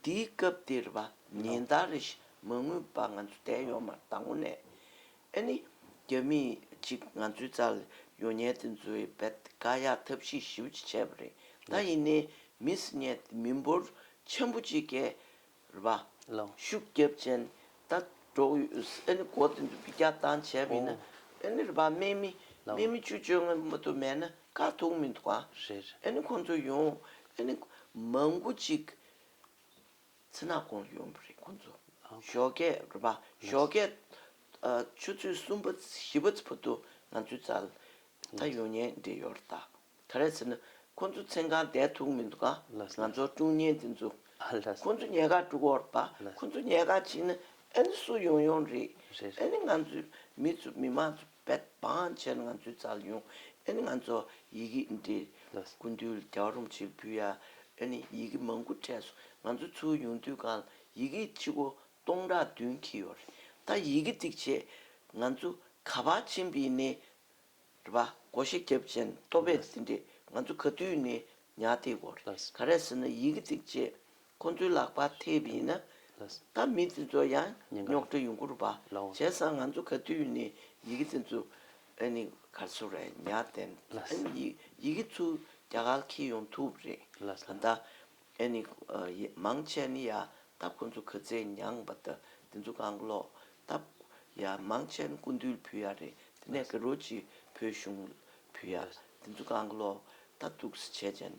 དེའི་སྐབས་དེ་རེད་བ་ཉིན་ལྟར་རེ་ཞིག་མ་ངུས་པར་ང་ཚོ་བསྡད་ཡོང་མར་དང་བོ་ནས། ཨེ་ནི། རྒྱ་མི་གཅིག་ང་ཚོའི་རྩ་ལ་ཡོད་ཉལ་ཏེ་འཛུལ་བའི་བད་ག་ཡག་ཐབས་ཤེས་ཞིབ་ཅིག་བྱས་པ་རེད་ད་ཡིན་ནའི་མི་སི་ཉལ་ཏེ་མི་འབོར་ཆེན་པོ་གཅིག་གས་ར་བ་ཤུགས་རྒྱབ་ཅན་ད་འགྲོ་ཨེ་ནི་འགོ་དེ་འདུག་གི་རྒྱག་སྟངས་བྱས་པ་ཡིན་ན་ཨེ་ནི་ར་བ་སྨད་མི་སྨད་མི་བཅུ་བཅོ་ལྔ་མ་ཏོ་མེད་ན་དཀའ་ཐུག་མི་འདུག་ག་ཨེ་ནི་ཁོང་ཚོ་ཡོང་ཨེ་ནི་མང་པོ་གཅིག་ཚེ་ནག་གོང་ལ་ཡོང་གི་རེད་ཁོང་ཚོ། ཞོགས་སྐད་རུ་པ་ཞོགས་སྐད། ཆུ་ཚོད་གསུམ་པ་བཞི་པ་བོ་དུ་ང་ཚོའི་ཚལ། ད་ཡོང་ཉེན་འདི་ཡོར་ད། ག་རེད་ཟེར་ན། ཁོང་ཚོ་མཚན་གང་བསྡད་ཐུག་མི་འདུག་ག། ང་ཚོར་དཀྲུག་ཉེན་འདི་འཛུག། ཁོང་ཚོ་ཉལ་ཁ་དཀྲུག་འོར་ད། ཁོང་ཚོ་ཉལ་ཁ་བྱིན་ན་ཨ་ནི་སུ་ཡོང་ཡོང་རེད། ཨ་ནི་ང་ཚོའི་མི་ཚོ་མི་མང་ཚོ། བས་བང་ཆེན་ང་ཚོས་བཙལ་མྱོང་ཨེ་ང་ཚོ་ཡི་གེ་འདི་དགུ་འདུལ་རྒྱ་རུམ་ཆེར་འབུལ་ཡ་ཨེ་ནི་ཡི་གེ་མང་པོ་སྤྲད་སོང་ང་ཚོ་ཚུར་ཡོང་དུས་གལ་ཡི་གེ་ཕྱི་སྒོ་སྟོང་ཕྲག་བདུན་འཁྱིལ་ཡོད་རེད་ད་ཡི་གེ་བརྩིགས་ཆེད་ང་ཚོ་ག་བ་ཆེན་པི་ནི་རེད་བ་སྒོ་ཤེ་རྒྱབ་ཅན་ལྟོ་བས་འདི་འདྲས་ང་ཚོ་ག་དུས་ནས་ཉག་སྟེ་གོ་རེད་ག་རེད་ཟེར་ན་ཡི་གེ་བརྩིགས་ཆེད་ཁོ་ཚོའི་ལག་པ་ཐེབས་ཡིན་ན་ད་མི་དེ་ཚོ་ཡང་རྙོག་དྲ་ཡོང་གུར་བ་བྱས་སང་ང་ཚོ་ག་དུས་ནས་ཡི་གེ་དེ་ཚོ་ཨ་ནི་ག་ཚོ་རེད་ཉག་བསྟན་ཨ་ནི་ཡི་གེ་ཚོ་རྒྱ་གར་ཁེལ་ཡོང་ཐུབ་རེད་ད་ད་ཨ་ནི་མང་ཆེ་ནི་ཡ་ད་ཁོ་ཚོ་ག་ཚད་མྱངས་པ་ད་དེ་ཚོ་གང་ཀློག་ད་ཡ་མང་ཆེ་ནི་ཀུན་འདུལ་བུ་ཡ་རེད་དེ་ནས་ག་རོ་ཅི་བོད་གཞུང་བུ་ཡ་དེ་ཚོ་གང་ཀློག་ད་དུག་སེ་བྱས་བྱས་ནས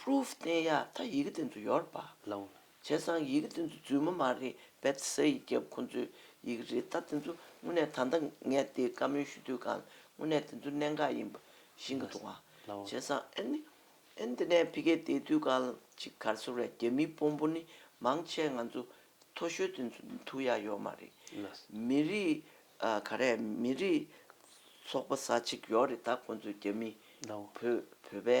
Proof བསྟན་ཡག་ད་ཡི་གེ་བསྟན་དུ་ཡོར་པ། ལོང། བྱས་ཙང་ཡི་གེ་བསྟན་དུ་རྫུན་མ་མ་རེད་བེད་ས་ཡི་རྒྱབ་ཁོང་ཚོའི་ཡི་གེ་རེད་ད་བསྟན་དུ་དངོས་གནས་ད་ལྟ་ངས་དེ་བཀའ་མོལ་ཞུ་དུས་གང་དངོས་གནས་བསྟན་དུ་གནད་འགག་ཡིན་པ་ཤེས་གི་འདུག་ལོང། བྱས་ཙང་ཨ་ནི་ཨ་ནི་དེ་ནས་ཕི་ཀའི་བསྡད་དུས་གང་ཅིག་གར་སོང་རེད་རྒྱ་མིའི་དཔོན་པོ་ནི་མང་ཆེ་ང་ཚོ་མཐོ་ཤོས་བསྟན་དུ་ཐུག་ཡག་ཡོར་མ་རེད། ལོས། མི་རིགས་ག་རེད་མི་རིགས་ཚོགས་པ་ས་ཅིག་ཡོར་རེད་ད་ཁོང་ཚོས་རྒྱ་མིའི་ལོང། བོད་པའི་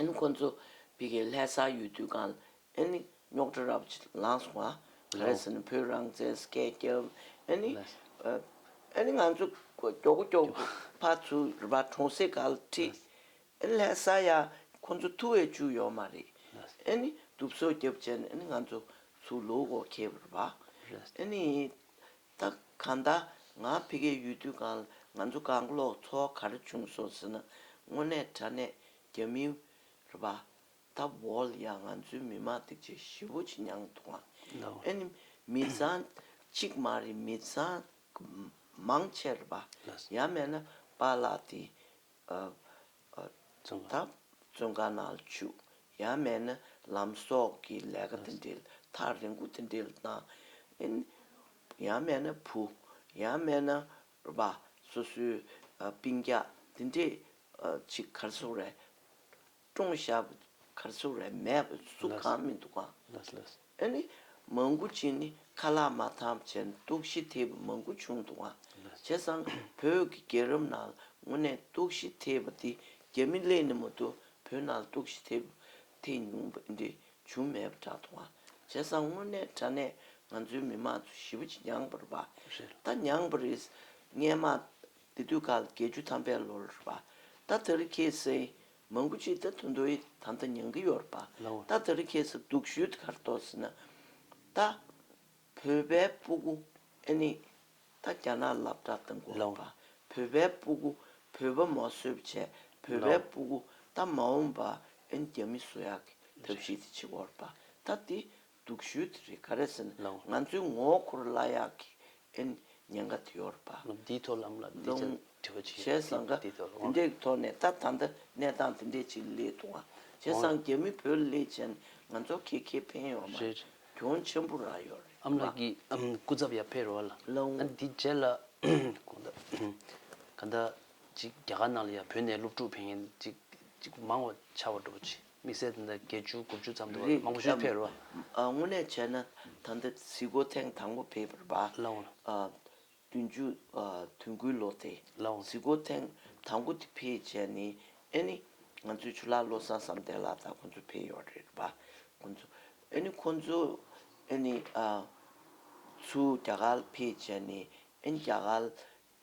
ཨན་ཁོ་ཚོ་བི་གའི་ལྷས་ས་ཡོད་དུས་གང་ཨན་ནི་རྙོག་དྲ་རབ་ཅིག་ལངས་སོང་ང་རེ་ཟུང་ནི་བོད་རང་བཙན་སྐད་རྒྱབ་ཨན་ནི་ཨན་ནི་ང་ཚོ་སྐྱོ་གུ་སྐྱོ་གུ་ཕ་ཚུ་རུ་པ་གྲོང་སྲས་ག་ལ་ཁྲིད་ཨན་ནི་ལྷས་ས་ཡ་ཁོ་ཚོ་ཐུ་བས་ཅུ་ཡོད་མ་རེད་ཨན་ནི་དུབ་སོ་རྒྱབ་བྱས་ནི་ཨན་ནི་ང་ཚོ་ཚུ་ལུ་གོ་ཁེབ་རུ་པ་ཨན་ནི་ད་ག་ད་ང་ཕི་གེ་ཡོད་དུས་གང་ང་ཚོ་གང་ཀློག་ཚོ་གར་བྱུང་སོང་ཟེར་ན་དངོས་གནས་དྲ་གནས་རྒྱ་མི་ར་བ་ད་བོལ་ཡ་ང་ཚོའི་མི་མང་སྡིག་ཆེ་ཞི་བོ་ཆེ་མྱང་ཐུང་ང་ཨེ་ནི་མི་བཟང་གཅིག་མ་རེད་མི་བཟང་མང་ཆེ་ར་བ་ཡ་མེད་ན་པ་ལགས་དེ་བརྩོན་ཁ་ནག་བྱུག་ཡང་མེད་ན་ལམ་སོགས་ཀྱི་ལས་ཀ་དེ་འདྲའི་ཐག་རིང་པོ་དེ་འདྲའི་དང། ཡང་མེད་ན་བུ། ཡང་མེད་ན་རྦ་སོ་སོའི་སྤིན་རྒྱག་དེ་འདྲས་ཅིག་གར་སོང་རེད། ཀྲུང་ཞྭ་བོ་གར་ཚུགས་རེད་མེད་བོ་གཟུགས་གང་མི་འདུག་ག་ཨེ་ནི་མང་གུ་ཅིག་ནི་ཁ་ལག་མ་ཐམས་ཅད་གཏུག་བཤི་ཐེབས་པ་མང་གུ་བྱུང་འདུག་ག་བྱས་ཙང་བོད་ཀྱི་རྒྱལ་རབས་ནང་ལ་དངོས་གནས་གཏུག་བཤི་ཐེབས་པ་འདི་རྒྱ་མི་ལས་ནི་མོ་དུ་བོད་ནང་ལ་གཏུག་བཤི་ཐེབས་ཐེ་ཉུང་པ་འདི་བྱུང་མེད་པ་འདྲ་འདུག་ག་བྱས་ཙང་དངོས་གནས་དྲ་གནས་ང་ཚོའི་མི་མང་ཚོ་ཞི་བོ་ཅིག་མྱངས་པ་རེད་པ་ད་མྱངས་པ་རེད་ངས་མ་དེ་དུས་ག་ལ་བརྒྱད་ཅུ་ཐམ་པའི་ལོ་ར་པ། ད་དེ་རུ་ཁྱེད་སེ། མང་པོ་ཅིག་ད་དུ་མདོ་ཡི་ད་མཐའ་མྱང་གི་ཡོད་ར་པ། ད་དེ་རུ་ཁྱེད་སེ་འདུག་ཞུད་ག་ར་ཏོག་སེ་ན། ད། བོད་པའི་སྤུ་གུ། ཨེ་ནི། ད་རྒྱ་ནག་ལབ་དྲག་ད་འགོ་ར་པ། བོད་པའི་སྤུ་གུ། བོད་པ་མོ་གསོད་པ་བྱས་བོད་པའི་སྤུ་གུ། ད་མ་འོང་པ། ཨེ་ནི་རྒྱ་མི་གསོད་ཡག་གི་ཐབས་ཤེས་དེ་བྱེད་འོ་ར་པ། ད་དེ། སྡུག་ཤོས་དེ་རེད་ག་རེ་ཟེར་ན་ང་ཚོའི་ངོ་འཁོར་བླ་གཡག་གི་ཨེ་ཉན་ག་དེ་ཡོར་པ། འདིའི་ཐོག་ལམ་ལ་འདི་ལྟར་དྲི་བ་བྱེད་ཡོད་ན་འདིའི་ཐོག་ལ་དབང། བྱས་ཟིན་ཀ། དེ་འདྲའི་ཐོག་ནས་ད་ད་ལྟ་གནས་སྟངས་དེ་འདྲས་ཅིག་ལས་ཐུག་ཨ། བྱས་ཟང་རྒྱ་མི་བོད་ལས་ཅན་ང་ཚོ་ཁེ་ཁེ་ཕན་ཡོར་མ། རེད། གྱོང་ཆེན་པོ་རག་ཡོར་རེད། ཨམ་ལགས་ཀྱིས་སྐུ་ཚབ་ཡར་ཕེབས་རོགས་ཨ་ལགས། ལོང། ཨ་འདི་རྗེས་ལ་གོང་ད། ག་ད། ཅིག་རྒྱ་གར་ནང་ལ་ཡར་བོད་ནས་སློབ་ཕྲུག་ཕེབས་མཁན་ཅིག་ཅིག་མང་བ་ཆགས་པ་འགྲོ་བ་བྱེད། དམིགས་བསལ་དེ་འདྲ་བརྒྱད་ཅུ་དགུ་བཅུ་ཙམ་འདུག་བ་མང་པོ་ཞིག་ཕེབས་རོགས། དངོས་གནས་བྱས་ན་ད་ལྟ་གཟིགས་སྐོར་ཐེངས་དང་པོ་ཕེབས་པར་བ། ལའོ། བདུན་ཅུ་དོན་དགུའི་ལོ་སྟེ། ལའོ། གཟིགས་སྐོར་ཐེངས་དང་པོ་དེ་ཕེབས་བྱས་ནས་ཨེ་ནི། ང་ཚོའི་ཆུ་ལག་བློ་བཟང་བསམ་གཏན་ལགས་དང་ཁོང་ཚོ་ཕེབས་ཡོད་རེད་བ། ཁོང་ཚོ། ཨེ་ནི་ཁོང་ཚོ། ཨེ་ནི། ཚུལ་རྒྱ་གར་ཕེབས་བྱས་ནས་ཨེ་ནི་རྒྱ་གར།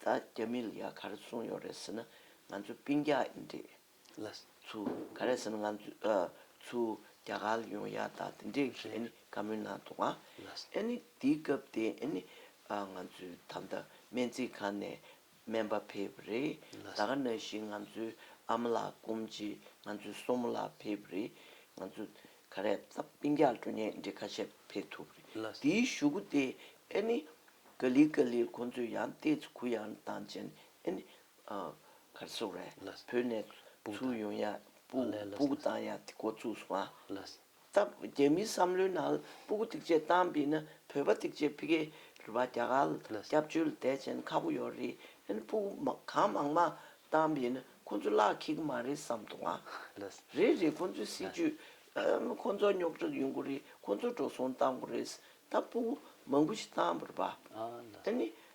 ད་རྒྱ་མི་ལ་ཡ་གར་གསུངས་ཡོད་རེད་ཟེར་ན་ང་ཚོ་པིང་རྒྱ་ཡིན་རེད། ལ། ཚུལ་ག་རེ་ཟེར་ན་ང་ཚོའི། རྒྱ་གར་ལ་ཡོང་ཡ་ད་དེ་འདྲའི་གི་ཨ་ནི་བཀའ་མོལ་གནང་འདུག་ཨ། ཨ་ནི་དེའི་སྐབས་དེ་ཨ་ནི། ང་ཚོའི་ད་ལྟ་སྨན་རྩིས་ཁང་ནས་སྨན་པ་ཕེབས་པ་རེད། ད་ག་ན་ཞིག་ང་ཚོའི་ཨ་མ་ལགས་སྐོམ་ཅི་ང་ཚོའི་སོ་མོ་ལགས་ཕེབས་པ་རེད། ང་ཚོ་ག་རེ་ད་པིང་རྒྱག་འགྲོ་ཉེན་འདྲེ་ཁ་ཤས་ཕེབས་ཐུབ་པ་རེད། དེའི་ཞུ་གུ་དེ་ཨ་ནི། ག་ལི་ག་ལིར་ཁོང་ཚོས་ཡང་བལྟས་ཚེ་གུ་ཡངས་དང་བཅས་ནས་ཨ་ནི། གར་སོགས་རེ་བོས་ནས་ཚུར་ཡོང་ཡ་སྤུ་གུ་བཏང་ཡ་དེ་འགོ་བཙུགས་སོང་སྟབས་རྒྱ་མིའི་བསམ་བློའི་ནང་སྤུ་གུ་ཐིག་ཆད་བཏང་པས་ན་བོད་པ་ཐིག་ཆད་ཕི་གེ་རུ་བ་རྒྱ་གར་ལ་སྐྱབས་བཅོལ་དད་ཅན་ཁ་པོ་ཡོད་རེད་ཨན་སྤུ་གུ་གང་མང་མང་བཏང་པས་ན་ཁོ་ཚོ་བརླག་ཁེག་གི་མ་རེད་བསམ་འདུག་ཨ་རེད་རེད་ཁོ་ཚོའི་སྲིད་ཇུས་ཨ་ཁོ་ཚོ་རྙོག་དྲ་ཡོད་འགོ་རེད་ཁོ་ཚོ་འགྲོ་སོང་བཏང་འགོ་རེད་སྟབས་སྤུ་གུ་མང་པོ་ཞིག་བཏང་བར་བ་ཨ་ནི་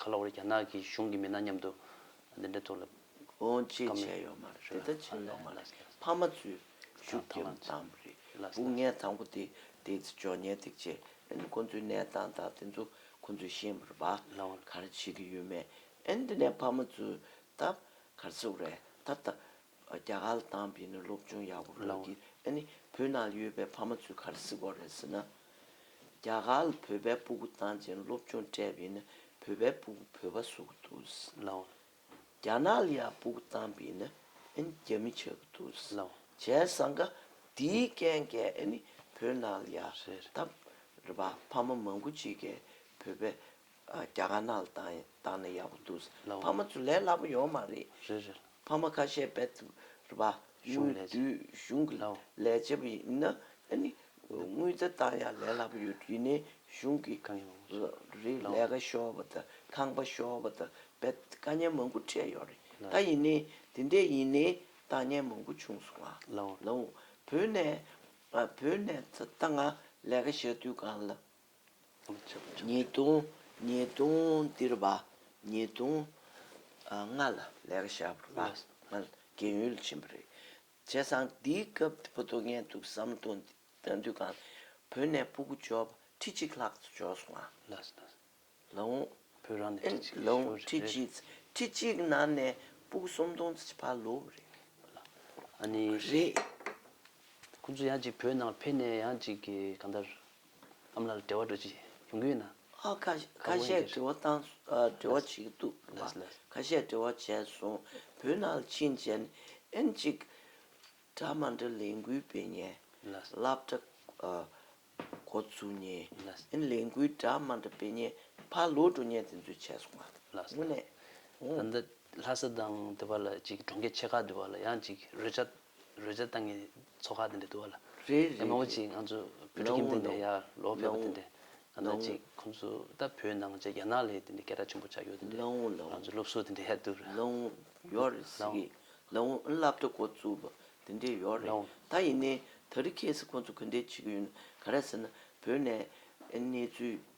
ཁ་ལོ་བ་རེད་རྒྱ་ནག་གི་གཞུང་གི་མི་སྣ་མཉམ་དུ་འདི་འདྲའི་ཐོག་ལ། ཨོང་ཅེས་བྱས་ཡོད་མ་རེད་ད་ཆ་ཡོད་མ་རེད་ཕ་མ་ཚོས་ཤུགས་རྒྱབ་མདམ་རེད་སྦུག་ངས་དང་པོ་དེ་དེ་ཚེ་ཇོ་ཉལ་ཐིག་ཆེ་ཨན་ཁོ་ཚོའི་གནས་སྟངས་དང་དེ་ཚོ་ཁོ་ཚོས་ཤེས་མ་རེད་བ་གར་བྱེད་ཀྱི་ཡོད་མེད་ཨན་དེ་ནས་ཕ་མ་ཚོས་ད་གར་ཟེར་བ་རེད་ད་ད་རྒྱ་གར་ལ་བཏང་པས་ནི་སློབ་ཅུང་ཡག་པོ་ཕོད་ཀྱི། ཨ་ནི་བོད་ནང་ལ་ཡོད་པའི་ཕ་མ་ཚོས་ག་རེ་གཟིགས་དགོས་རེད་ཟེར་ན། རྒྱ་གར་ལ་བོད་པའི་སྤུ་གུ་བཏང་རྗེས་ནི་སློབ་ཆུང་སྤྲད་པས་ནི་བོད་པའི་སྤུ་གུ་བོད་པ་བཟོ་གི་འདུག། རྒྱ་ནག་ལ་ཡང་སྤུ་གུ་བཏང་པས་ནི་ཨ་ནི་རྒྱ་མི་ཆགས་ཀྱི་འདུག་བྱས་ཟང་ཀ། དེའི་རྐྱེན་གྱིས་ཨ་ནི་བོད་ནང་ལ་ཡང་ད་རེད་པ་ཕ་མ་མང་པོ་ཅིག་གིས་བོད་པའི་རྒྱ་དཀར་ནག་ལ་བཏང་ནས་ཡག་པོ་འདུག་ཕ་མ་ཚོ་ལས་སླ་པོ་ཡོད་མ་རེད། ཕ་མ་ཁ་ཤས་བེད་ཐུབ་རེད་པ། དངུལ་བསྡུས་གཞུང་གི་ལས་བྱེད་པ་ཡིན་ན་དངུལ་རྩ་བཏང་ཡག་ལས་སླ་པོ་ཡོད་དུས་ནས་གཞུང་གི་རིགས་ལས་ཀ་ཤོར་བ་དང་ཁང་པ་ཤོར་བ་དང་བེད་དཀའ་ཉེན་མང་པོ་འཕྲད་ཡོད་རེད་ད་ཡིན་ནའི་དེ་འད་ཡིན་ནའི་བཏང་ཉེན་མང་པོ་བྱུང་སོང་ང་ལའོ་བོད་ནས་བོད་ནས་ད་ང་ལས་ཀ་བྱ་དུས་གང་ལ། ཉེས་ལྟུང། ཉེས་ལྟུང་སྟེར་བ། ཉེས་ལྟུང། ལྔ་ལ་ལེགས་བཤད་པ། རྒན་ཡོལ་ཕྱིན་པ་རེད། བྱས་ཙང་འདིའི་སྐབས་སྤུ་རྡོ་ངན་འདུག་བསམ་བསྡོ་འདུག་གང། བོད་ནས་སྤུ་གུ་འབྱོར་བ་ཁྲི་གཅིག་ལྷག་འབྱོར་སོང་ང། ལ་འུ། བོད་རང་ནས་ཁྲི་གཅིག་ཤོར་རེད། ཁྲི་གཅིག། ཁྲི་གཅིག་ནང་ནས་སྤུ་གུ་སུམ་སྟོང་བར་ལོས་རེད། རེད། ཁོང་ཚོ་ཡང་ཅིག་བོད་ནང་ཕེབས་ནས་ཡང་ཅིག་གང་ལྟར། ཨ་མ་ལགས་འབྲེལ་བ་འགྲོ་ཅི་ཡོང་གི་ཡོད་ན། ཨ་ཁ་ཤས་འབྲེལ་བ་བཏང་འབྲེལ་བ་བྱེད་འདུག་པ་ཁ་ཤས་འབྲེལ་བ་བྱས་སོང་བོད་ནང་ལ་ཕྱིན་རྗེན་ཨེན་གཅིག་གྲ་མ་འདྲ་ལས་འགུལ་སྤེལ་ཉེན་བསླབ་གྲ་འགོ་བཙུགས་ཉེན་ཨེན་ལས་འགུལ་གྲ་མ་འདྲ་སྤེལ་ཉེན་ཕར་ལོག་འགྲོ་ཉེན་དེ་ཚོས་བྱས་སོང་ངོ། ལྷ་ས་དང་དེ་བར་ལ་གཅིག་གྲོང་ཁྱེར་ཆེ་ཁག་དེ་བར་ལ་ཡང་གཅིག་རོལ་ཆ་རོལ་ཆ་བཏང་གི་ཚོ་ཁག་དེ་འདྲ་འདུག་ལ། རེད་རེད་རེད། མོ་ཅིག་ང་ཚོ་བོད་ཕྲུག་ཁྱིམ་དེ་འདྲ་ཡར་ལོག་ཕེབས་པ་དེ་འདྲ། ང་ཚོ་ཅིག་ཁོང་ཚོ་ད་བོད་ནང་བཅས་རྒྱ་ནག་ལས་དེ་འདྲ་སྐད་གྲགས་ཆེན་པོ་ཆགས་ཡོད་དེ་འདྲ། ང་ཚོ་སློབ་གསོ་དེ་འདྲ་ཡར་འདུག་ར། བླ་བྲེ་འགོ་བཙུགས་པ་དེ་འདྲ་ཡོད་རེད། ད་ཡིན་ནའི་ད་རི་ཁེ་སི་ཁོང་ཚོ་གུས་འདེད་བྱེད་ཀྱི་ཡོད་ན་ག་རེ་ཟེར་ན་བོད་ནས་གནས་ཚུལ་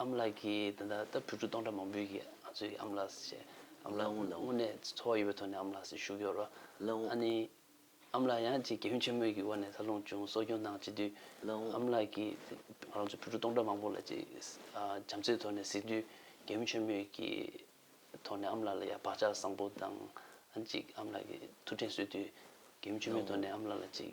ཨ་མ་ལགས་ཀྱིས་དེ་ལྟར་སྟབས་དྲུག་ཅུ་སྟོང་ཕྲག་མང་པོའི་ཁྱེད་ཚོས་ཀྱིས་ཨ་མ་ལགས་སུ་བྱས། ཨ་མ་ལགས་དངོས་གནས་འཚོ་བ་ཡོད་པའི་ཐོག་ནས་ཨ་མ་ལགས་སུ་ཞུགས་ཡོད། ཨ་ནེ། ཨ་མ་ལགས་ཡང་ཅིག་རྒན་གཞོན་ཆེན་མོའི་གི་བར་ནས་འཚར་ལོངས་བྱུང་གསོ་སྐྱོང་གནང་བྱེད་དུས། ཨ་མ་ལགས་ཀྱིས་ང་རང་ཚོ་ཕྲུ་གུ་སྟོང་ཕྲག་མང་པོ་ལ་ཅིག་བྱམས་བརྩེའི་ཐོག་ནས་གཟིགས་དུས་རྒན་གཞོན་ཆེན་མོའི་གི་ཐོག་ནས་ཨ་མ་ལགས་ལ་ཡང་བག་ཆགས་བཟང་པོ་དང། ཅིག་ཨ་མ་ལགས་ཀྱི་ཐུགས་དྲན་གསོས་དུས། རྒན་གཞོན་ཆེན་མོའི་ཐོག་ནས་ཨ་མ་ལགས་ལ་ཅིག།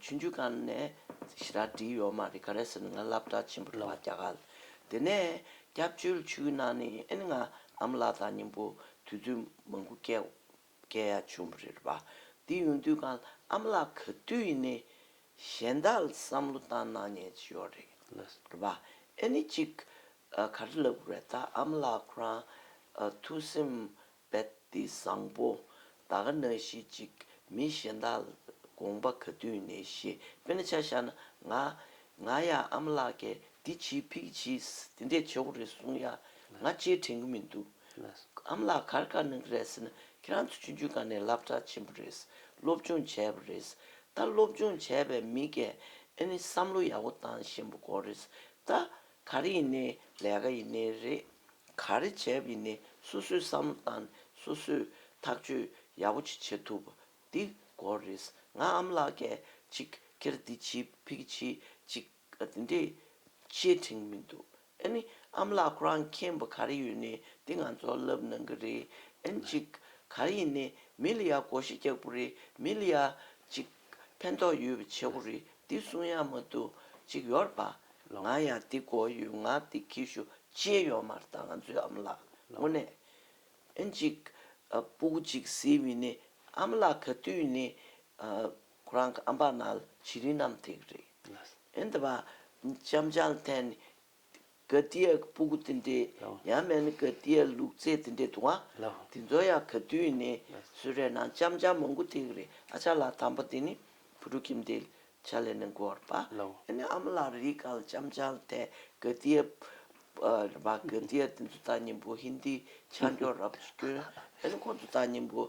ཆུ་འཇུག་ཁང་ནས་ཞི་རགས་བྲིས་ཡོད་མ་རེད་ག་རེ་ཟེར་ནས་ང་སླབ་གྲྭ་ཆེན་པོ་རེད་བ་རྒྱ་གར། དེ་ནས་སྐྱབས་བཅོལ་ཆུའི་ནང་ནས་ཨེ་ནི་ང་ཨ་མ་ལགས་དང་གཉེན་པོ་དུས་ཚོད་མང་པོ་བསྐལ་བསྐལ་ཡ་བྱུང་བ་རེད་བ། དེ་ཡོང་དུས་ཁང་ཨ་མ་ལགས་ག་དུས་ཡིན་ནའི་གཞན་དག་བསམ་བློ་བཏང་གནང་ཉན་ཅི་ཡོད་རེད་བ། ཨེ་ནི་གཅིག་ག་རེ་ལབ་དགོས་རེད་ད་ཨ་མ་ལགས་ཁོ་རང་ཐུགས་སེམས་དཔལ་ཏི་བཟང་པོ། ད་ག་ན་ཤི་ཅིག་མི་གཞན་དག་ལ་དགོངས་པ་ག་དུས་ནས་བཞེས་པས་ན་ཆ་ཤ་ན་ང། ང་ཡ་ཨ་མ་ལགས་ཀས་འདི་བྱིས་ཕིག་གི་བྱིས་དེ་འདྲས་བྱེད་འོག་རེད་གསུངས་ཡ། ང་ལྕེ་དྲན་གི་མི་འདུག་ཨ་མ་ལགས་གར་དཀའ་གནང་གི་རེད་ཟེར་ན་ཁྱེད་རང་ཚོ་ཆུང་ཆུང་ག་ནས་བསླབ་གྲྭ་ཆེན་པོ་རེད་སློབ་སྦྱོང་བྱས་པ་རེད་ད་སློབ་སྦྱོང་བྱས་པའི་མི་གས་ཨེ་ནི་བསམ་བློ་ཡག་པོ་བཏང་བཞིན་པ་གོ་རེད་ད། ག་རེ་ཡིན་ནའི་ལས་ཀ་ཡིན་ནའི་རེད། ག་རེ་བྱས་པ་ཡིན་ནའི་སོ་སོའི་བསམ་བློ་དང་སོ་སོས་ཐག་གཅོད་ཡག་པོ་ཅིག་བྱེད་ཐུབ་པ་འདི་སྐོར་རེད། ང་ཨམ་ལགས་སྐད་ཅིག་ཁྱེར་འདི་ཇི་ཕིག་གི་ཆེད་ཅིག་འདི་འདྲའི་བཤད་ཐེངས་མི་འདུག་ཨ་ནི་ཨམ་ལགས་ཁོ་རང་མཁྱེན་པ་ག་རེ་ཡོད་ནའི་འདི་ང་ཚོ་ལབ་གནང་གི་རེད་ཨན་ཅིག་ག་རེ་ཡིན་ནའི་མི་ལ་ཡ་གོ་ཤེས་རྒྱག་པོ་རེད་མི་ལ་ཡ་ཅིག། ཕན་ཐོགས་ཡོད་པའི་བྱེད་སྒོ་རིགས་འདི་གསུང་ཡག་མ་འདུག་གཅིག་ཡོར་པ་ང་ཡང་འདི་གོ་ཡོད་ང་འདི་གི་ཞུ་ཅེས་ཡོར་མར་ད་ང་ཚོའི་ཨམ་ལགས་དངོས་གནས་གཅིག་སྤུ་གུ་གཅིག་ཟེར་བའི་ནི་ཨམ་ལགས་ག་དུས་ནི་ཁོ་རང་གི་ཨམ་པ་ནལ་བྱི་རིན་ནམ་དེ་གི་རེད་འདི་བ་ལྕམ་ཅང་ཐན་ནི་ག་ཏི་ཡའི་སྤུ་གུ་དེ་འདྲའི་ཡང་མེད་ནི་ག་ཏི་ཡའི་ལུག་རྫས་དེ་འདྲའི་དུ་བ་དེ་ཚོ་ཡང་ག་དུས་ནས་སུ་རེད་ན་ལྕམ་ལྕམ་མོ་མགོ་ཐེག་རེད་ཨ་ཅག་ལགས་དམ་པ་དེ་ནི་བུ་ཕྲུག་ཁྱིམ་སྡེའི་ཆ་ལས་ནས་འགོར་པ་ཨེ་ནི་ཨ་མ་ལགས་རིག་ག་ལ་ལྕམ་ལྕམ་ལ་དེ་ག་ཏི་ཡའི་བ་ག་ཏི་ཡའི་དེ་ཚོ་ད་ཉིན་པོ་ཧིན་དིའི་ཆ་འཇོག་རབས་སྐྱོན་ཨེ་ནི་ཁོང་ཚོ་ད་ཉིན་པོ་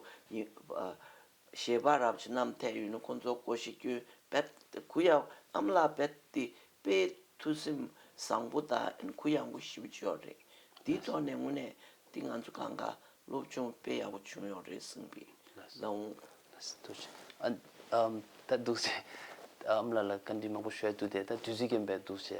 ཞེས་པ་རབ་བྱེད་རྣམ་ཐད་ཡུལ་ནི་ཁོ་ཚོ་ཀོ་ཤི་ཀྱོའི་བེད་ཏི་གུ་ཡའོ་ཨམ་ལ་བེད་ཏི་དཔེ་ཐུ་སིམ་བཟང་པོ་དང་གུ་ཡངས་པོ་ཞིབ་བྱེད་ཡོད་རེད། འདིའི་ཐོག་ནས་དངོས་གནས་འདི་ང་ཚོ་གང་དགའ་སློབ་ཆུང་དཔེ་ཡག་པོ་བྱུང་ཡོད་རེད་གསུངས་པའི་ལུང། ད་འདུག་སེ། ཨམ་ལ་ལ་བཀའ་དྲིན་མང་པོ་ཞུ་ཡ་འདུག་དེ་ད་དུས་ཚོད་ཀྱིས་འབད་འདུག་སེ།